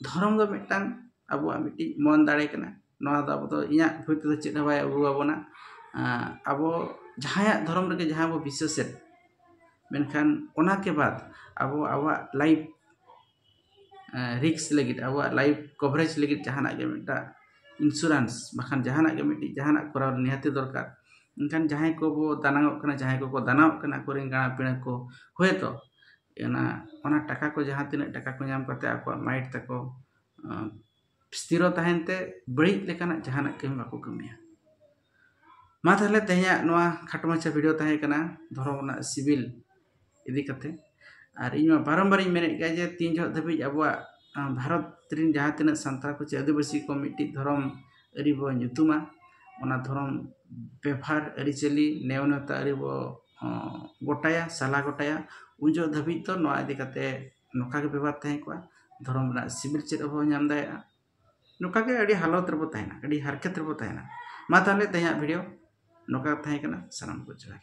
ᱫᱷᱚᱨᱚᱢ ᱫᱚ ᱢᱤᱫᱴᱟᱝ ᱟᱵᱚᱣᱟᱜ ᱢᱤᱫᱴᱤᱡ ᱢᱚᱱ ᱫᱟᱲᱮ ᱠᱟᱱᱟ ᱱᱚᱣᱟ ᱫᱚ ᱟᱵᱚ ᱫᱚ ᱤᱧᱟᱹᱜ ᱵᱩᱡᱽ ᱛᱮᱫᱚ ᱪᱮᱫ ᱦᱚᱸ ᱵᱟᱭ ᱟᱹᱜᱩ ᱟᱵᱚᱱᱟ ᱟᱵᱚ ᱡᱟᱦᱟᱸᱭᱟᱜ ᱫᱷᱚᱨᱚᱢ ᱨᱮᱜᱮ ᱡᱟᱦᱟᱸ ᱵᱚᱱ ᱵᱤᱥᱥᱟᱹᱥᱮᱫ ᱢᱮᱱᱠᱷᱟᱱ ᱚᱱᱟᱠᱮ ᱵᱟᱫᱽ ᱟᱵᱚ ᱟᱵᱚᱣᱟᱜ ᱞᱟᱭᱤᱯᱷ ᱨᱤᱠᱥ ᱞᱟᱹᱜᱤᱫ ᱟᱵᱚᱣᱟᱜ ᱞᱟᱭᱤᱯᱷ ᱠᱚᱵᱷᱟᱨᱮᱡᱽ ᱞᱟᱹᱜᱤᱫ ᱡᱟᱦᱟᱱᱟᱜ ᱜᱮ ᱢᱤᱫᱴᱟᱝ ᱤᱱᱥᱩᱨᱮᱱᱥ ᱵᱟᱠᱷᱟᱱ ᱡᱟᱦᱟᱱᱟᱜ ᱜᱮ ᱢᱤᱫᱴᱤᱡ ᱡᱟᱦᱟᱱᱟᱜ ᱠᱚᱨᱟᱣ ᱱᱤᱦᱟᱹᱛᱤ ᱫᱚᱨᱠᱟᱨ ᱢᱮᱱᱠᱷᱟᱱ ᱡᱟᱦᱟᱸᱭ ᱠᱚᱵᱚ ᱫᱟᱱᱟᱝᱚᱜ ᱠᱟᱱᱟ ᱡᱟᱦᱟᱸᱭ ᱠᱚᱠᱚ ᱫᱟᱱᱟᱝᱚᱜ ᱠᱟᱱᱟ ᱟᱠᱚ ᱨᱮᱱ ᱜᱟᱬᱟ ᱯᱤᱬᱟ ᱠᱚ ᱦᱳᱭᱛᱳ ᱚᱱᱟ ᱚᱱᱟ ᱴᱟᱠᱟ ᱠᱚ ᱡᱟᱦᱟᱸ ᱛᱤᱱᱟᱹᱜ ᱴᱟᱠᱟ ᱠᱚ ᱧᱟᱢ ᱠᱟᱛᱮᱫ ᱟᱠᱚᱣᱟᱜ ᱢᱟᱭᱤᱰ ᱛᱟᱠᱚ ᱥᱛᱷᱤᱨᱚ ᱛᱟᱦᱮᱱ ᱛᱮ ᱵᱟᱹᱲᱤᱡ ᱞᱮᱠᱟᱱᱟᱜ ᱡᱟᱦᱟᱱᱟᱜ ᱠᱟᱹᱢᱤ ᱵᱟᱠᱚ ᱠᱟᱹᱢᱤᱭᱟ ᱢᱟ ᱛᱟᱦᱚᱞᱮ ᱛᱮᱦᱮᱧᱟᱜ ᱱᱚᱣᱟ ᱠᱷᱟᱴᱚ ᱢᱟᱪᱷᱟ ᱵᱷᱤᱰᱤᱭᱳ ᱛᱟᱦᱮᱸ ᱠᱟᱱᱟ ᱫᱷᱚᱨᱚᱢ ᱨᱮᱱᱟᱜ ᱥᱤᱵᱤᱞ ᱤᱫᱤ ᱠᱟᱛᱮ ᱟᱨ ᱤᱧ ᱢᱟ ᱵᱟᱨᱚᱢᱵᱟᱨᱤᱧ ᱢᱮᱱᱮᱫ ᱜᱮᱭᱟ ᱡᱮ ᱛᱤᱱ ᱡᱚᱦᱚᱜ ᱫᱷᱟᱹᱵᱤᱡ ᱟᱵᱚᱣᱟᱜ ᱵᱷᱟᱨᱚᱛ ᱨᱮᱱ ᱡᱟᱦᱟᱸ ᱛᱤᱱᱟᱹᱜ ᱥᱟᱱᱛᱟᱲ ᱠᱚ ᱪᱮ ᱟᱹᱫᱤᱵᱟᱹᱥᱤ ᱠᱚ ᱢᱤᱫᱴᱤᱡ ᱫᱷᱚᱨᱚᱢ ᱟᱹᱨᱤ ᱵᱚ ᱧᱩᱛᱩᱢᱟ ᱚᱱᱟ ᱫᱷᱚᱨᱚᱢ ᱵᱮᱵᱷᱟᱨ ᱟᱹᱨᱤᱪᱟᱹᱞᱤ ᱱᱮᱣ ᱱᱮᱣᱛᱟ ᱟᱹᱨᱤ ᱵᱚ ᱜᱚᱴᱟᱭᱟ ᱥᱟᱞᱟ ᱜᱚᱴᱟᱭᱟ ᱩᱱ ᱡᱚᱦᱚᱜ ᱫᱷᱟᱹᱵᱤᱡ ᱫᱚ ᱱᱚᱣᱟ ᱤᱫᱤ ᱠᱟᱛᱮ ᱱᱚᱝᱠᱟ ᱜᱮ ᱵᱮᱵᱚᱦᱟᱨ ᱛᱟᱦᱮᱸ ᱠᱚᱜᱼᱟ ᱫᱷᱚᱨᱚᱢ ᱨᱮᱱᱟᱜ ᱥᱤᱵᱤᱞ ᱪᱮᱫ ᱦᱚᱸ ᱵᱟᱵᱚᱱ ᱧᱟᱢ ᱫᱟᱲᱮᱭᱟᱜᱼᱟ ᱱᱚᱝᱠᱟ ᱜᱮ ᱟᱹᱰᱤ ᱦᱟᱞᱚᱛ ᱨᱮᱵᱚᱱ ᱛᱟᱦᱮᱱᱟ ᱟᱹᱰᱤ ᱦᱟᱨᱠᱮᱛ ᱨᱮᱵᱚᱱ ᱛᱟᱦᱮᱱᱟ ᱢᱟ ᱛᱟᱦᱚᱞᱮ ᱛᱮᱦᱮᱧᱟᱜ ᱵᱷᱤᱰᱤᱭᱳ ᱱᱚᱝᱠᱟ ᱜᱮ ᱛᱟᱦᱮᱸ ᱠᱟᱱᱟ ᱥᱟᱱᱟᱢ ᱠᱚ ᱡᱚᱦᱟᱨ